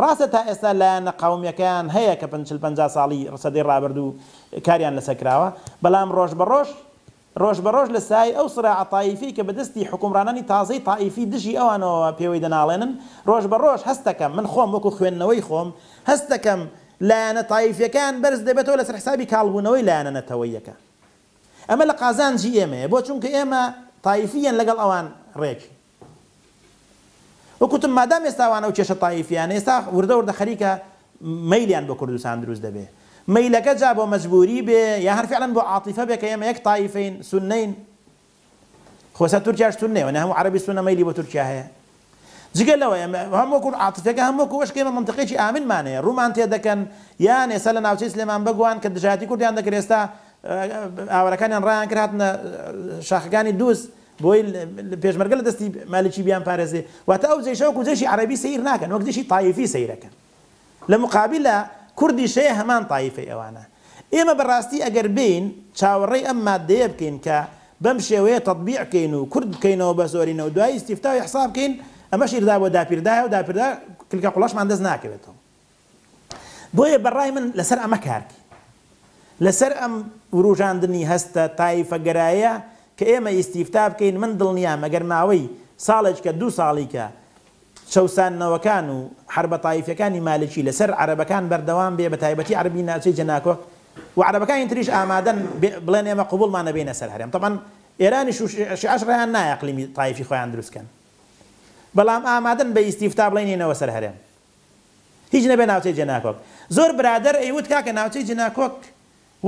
ڕاستە تا ئێستا لایەنە قەومیەکەیان هەیە کە پن چل پەنجا ساڵی سەدەی ڕابردوو کاریان لەسەر کراوە بەلام ڕۆژ بە ڕۆژ ڕۆژ بە ڕۆژ لە سایەی ئەو سراعە تایفیەی کە بە دەستی حوکمڕانانی تازەی تائیفی دژی ئەوانەوە پێوەی دەناڵێنن ڕۆژ بە ڕۆژ هەست دەکەم من خۆم وەکو خوێندنەوەی خۆم هەست دەکەم لایەنە تایفیەکەیان بەرز دەبێتەوە لەسەر حسابی کاڵ بوونەوەی لایەنە نەتەوەیەکە ئەمە لە قازانجی ئێمەیە بۆ چونکە ئێمە تایفیەن لەگەڵ ئەوان ڕێک وەک وتم مادام ئێستا ئەوان ئەو کێشە تایفیانە ئێستا وردە وردە خەریکە مەیلیان بۆ کوردستان دروست دەبێ مەیلەکە جا بۆ مەجبوری بێ یا هەر فعلا بۆ عاطفە بێ کە ئێمە یەک تایفین سونەین خۆ ئێستا تورکیاش سونەیە وەنە هەموو عەرەبی سونە مەیلی بۆ تورکیا هەیە جگە لەوەیە هەم وەکو عاطفەکە هەم وەکو ئەش کێمە منطقێکی ئامنمان هەیە ڕوومان تێ دەکەن یان ئێستا لە ناوچەی سلێمان بەگوان کە دژایەتی کوردیان دەکرێت ئێستا ئاوارەکانیان ڕایان کرد هاتنە شاخەکانی دووس بۆی پێشمەرگە لە دەستی مالکی بیانپارێزێ واتە ئەو جەیشە وەکو جەیشی عەرەبی سەیر ناکەن وەک جەیشی تایفی سەیرەکەن لە مقابلە کوردیش هەیە هەمان تایفەی ئەوانە ئێمە بەڕاستی ئەگەر بێین چاوەڕێی ئەم ماددەیە بکەین کە بەم شێوەیە تەتبیع بکەین و کورد بکەینەوە بە زۆرینە و دوایی ئیستیفتا و ئیحسا بکەین ئەمەش ئیردا بۆ داپیردایە و داپیردا کلکە قوڵاشمان دەست ناکەوێتەوە. بۆیە بە ڕای من لەسەر ئەمە کار بکەین. لەسەر ئەم وروژاندنی هەستە تایفەگەرایە کە ئێمە ئیستیفتا بکەین من دڵنیام ئەگەر ماوەی ساڵێجکە دوو ساڵیکە چەوساندنەوەکان و حەربە تایفیەکانی مالکی لەسەر عەرەبەکان بەردەوام بێ بە تایبەتی عەرەبی ناوچەی جەناکۆک و عەرەبەکانی تریش ئامادەن بڵێن ئێمە قبوڵمان نەبینە سەر هەرێم طبعا ئێرانیش و شیعەش ڕێیان نایە قلیمی تایفی خۆیان دروستکەن بەڵام ئامادەن بە ئیستیفتا بڵێنینەوە سەر هەرێم هیچ نەبێ ناوچەی جێناکۆک زۆر برادەر ئەیوت کاکە ناوچەی جێناکۆک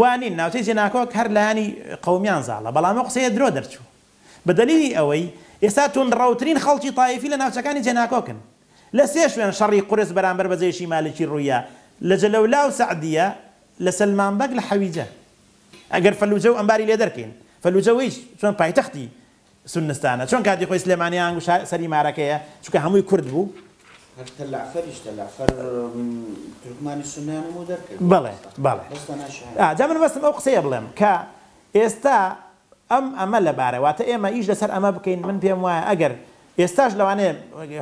وا نین ناوچەی جێناکۆک هەر لایەنی قەومیان زاڵە بەڵام ئەو قسەیە درۆ دەرچوو بە دەلیلی ئەوەی ئێستا توندڕەوترین خەڵکی تایفی لە ناوچەکانی جێناکۆکن لە سێ شوێن شەڕی قورس بەرامبەر بە جەیشی مالکی ڕوویە لە جەلەولا و سەعدیە لە سەلمان بەگ لە حەویجە ئەگەر فەلوجە و ئەنباری لێ دەرکەین فەلوجە وەیس چوون پایتەختی سونستانە چۆن کاتی خۆی سلێمانی ئانگو شا سەری مارەکەیە چونکە هەمووی کورد بوو. هەر تەلەعفەریش تەلەعفەر تورکمانی سوننەیان هەموو دەرکرد. بەڵێ بەڵێ بەس تەنها شاعیر. ئا جا من مەبەستم ئەو قسەیە بڵێم کە ئێستا ئەم ئەمە لەبارە واتە ئێمە ئیش لەسەر ئەمە بکەین من پێم وایە ئەگەر ئێستاش لەوانەیە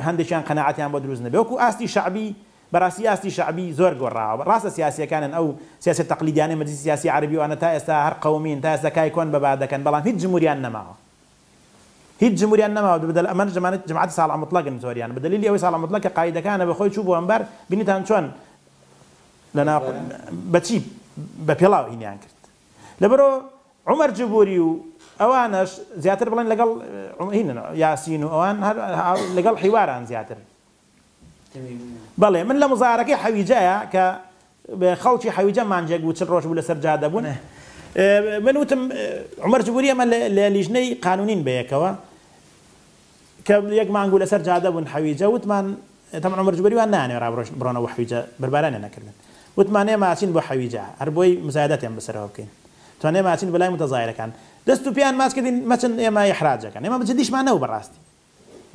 هەندێکیان قەناعەتیان بۆ دروست نەبێ وەکو ئاستی شەعبی بەراستی ئاستی شەعبی زۆر گۆڕاوە ڕاستە سیاسیەکانن ئەو سیاسیە تەقلیدیانەی مەجلیسی سیاسی عەرەبی وانە تا ئێستا هەر قەومین تا ئێستا کای کۆن بەبا دەکەن بەڵام هیچ جموریان نەماوە هیچ جموریان نەماوە بەبدەل ئەمانە جەمانەتی جەماعەتی ساڵح موتڵەقن زۆریان بەدەلیلی ئەوەی ساڵح موتڵەق کە قائیدەکانە بەخۆی چوو بۆ ئەنبار بینیتان چۆن لەناو بەچی بەپێڵاو هینیان کرد لەبەرو عومەر جبوری و ئەوانەش زیاتر بڵێن لەگەڵ هینن یاسین و ئەوان هەر لەگەڵ حیواران زیاتر. بەڵێ من لە مزارەکەی حەویجەیە کە خەڵکی حەویجە مانگێک بوو چل ڕۆژ بوو لەسەر جادە بوون من وتم عومەر جبوری ئەمە لە لیژنەی قانونین بەیەکەوە کە یەک مانگ بوو لەسەر جادە بوون حەویجە وتمان تەمەن عومەر جبوری وان نانێ ڕابڕۆژ بڕۆنەوە حەویجە بەربارانیان نەکردن وتمانێ ماچین بۆ حەویجە هەر بۆی مزایدەتیان بەسەرەوە بکەین توانێ ماچین بەلای متەزایرەکان دەست و پێیان ماچ کردین مەچن ئێمە ئیحراجەکەن ئێمە بە جدیشمان نەبوو بەڕاستی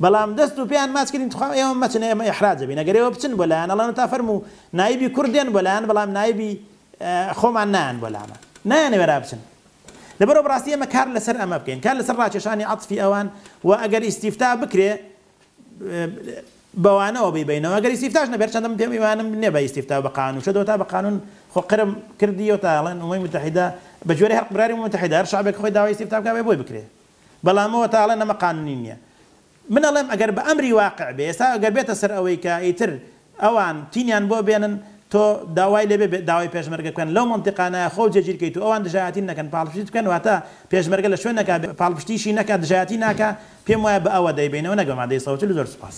بەڵام دەست و پێیان ماچ کردین تخوا ئێوە مەچن ئێمە ئیحراج ئەبین ئەگەر ئێوە بچن بۆ لایان ئەڵێن تا فەرموو نایبی کورد دێن بۆ لایان بەڵام نایبی خۆمان نایەن بۆ لامان نایانەوێرا بچن لەبەرەوە بەڕاستی ئێمە کار لەسەر ئەمە بکەین کار لەسەر ڕاکێشانی عەتفی ئەوان و ئەگەر ئیستیفتا بکرێ بەوانەوە بیبینەوە ئەگەر ئیستیفتاش نەبێت چەندم پێم ئیمانم نییە بە ئیستیفتا بە قانون شەدەوە تا بە قانون خۆ قرم کردی و تا ئەڵێن ئەمەی متحیدا بە جۆرە هەر قراری متحیدا هەر شعبێک خۆی داوای ئیستیفتا بکا بۆی بکرێ بەڵام ئەوە تا ئەڵێن ئەمە قانونی نیە من ئەڵێم ئەگەر بە ئەمری واقع بێ ئێستا ئەگەر بێتە سەر ئەوەی کە ئیتر ئەوان تینیان بۆ بێنن تۆ داوای لێ بێ داوای پێشمەرگە بکەن لەو مەنتیقانە خۆو جێگیر کەیت و ئەوان دژایەتیت نەکەن پاڵپشتیت بکەن واتە پێشمەرگە لە شوێنێکا بێ پاڵپشتیشی نەکا دژایەتی ناکا پێم وایە بە ئەوە دەیبەینەوە نەک بە مادەی سەوتل زۆر سوپاس.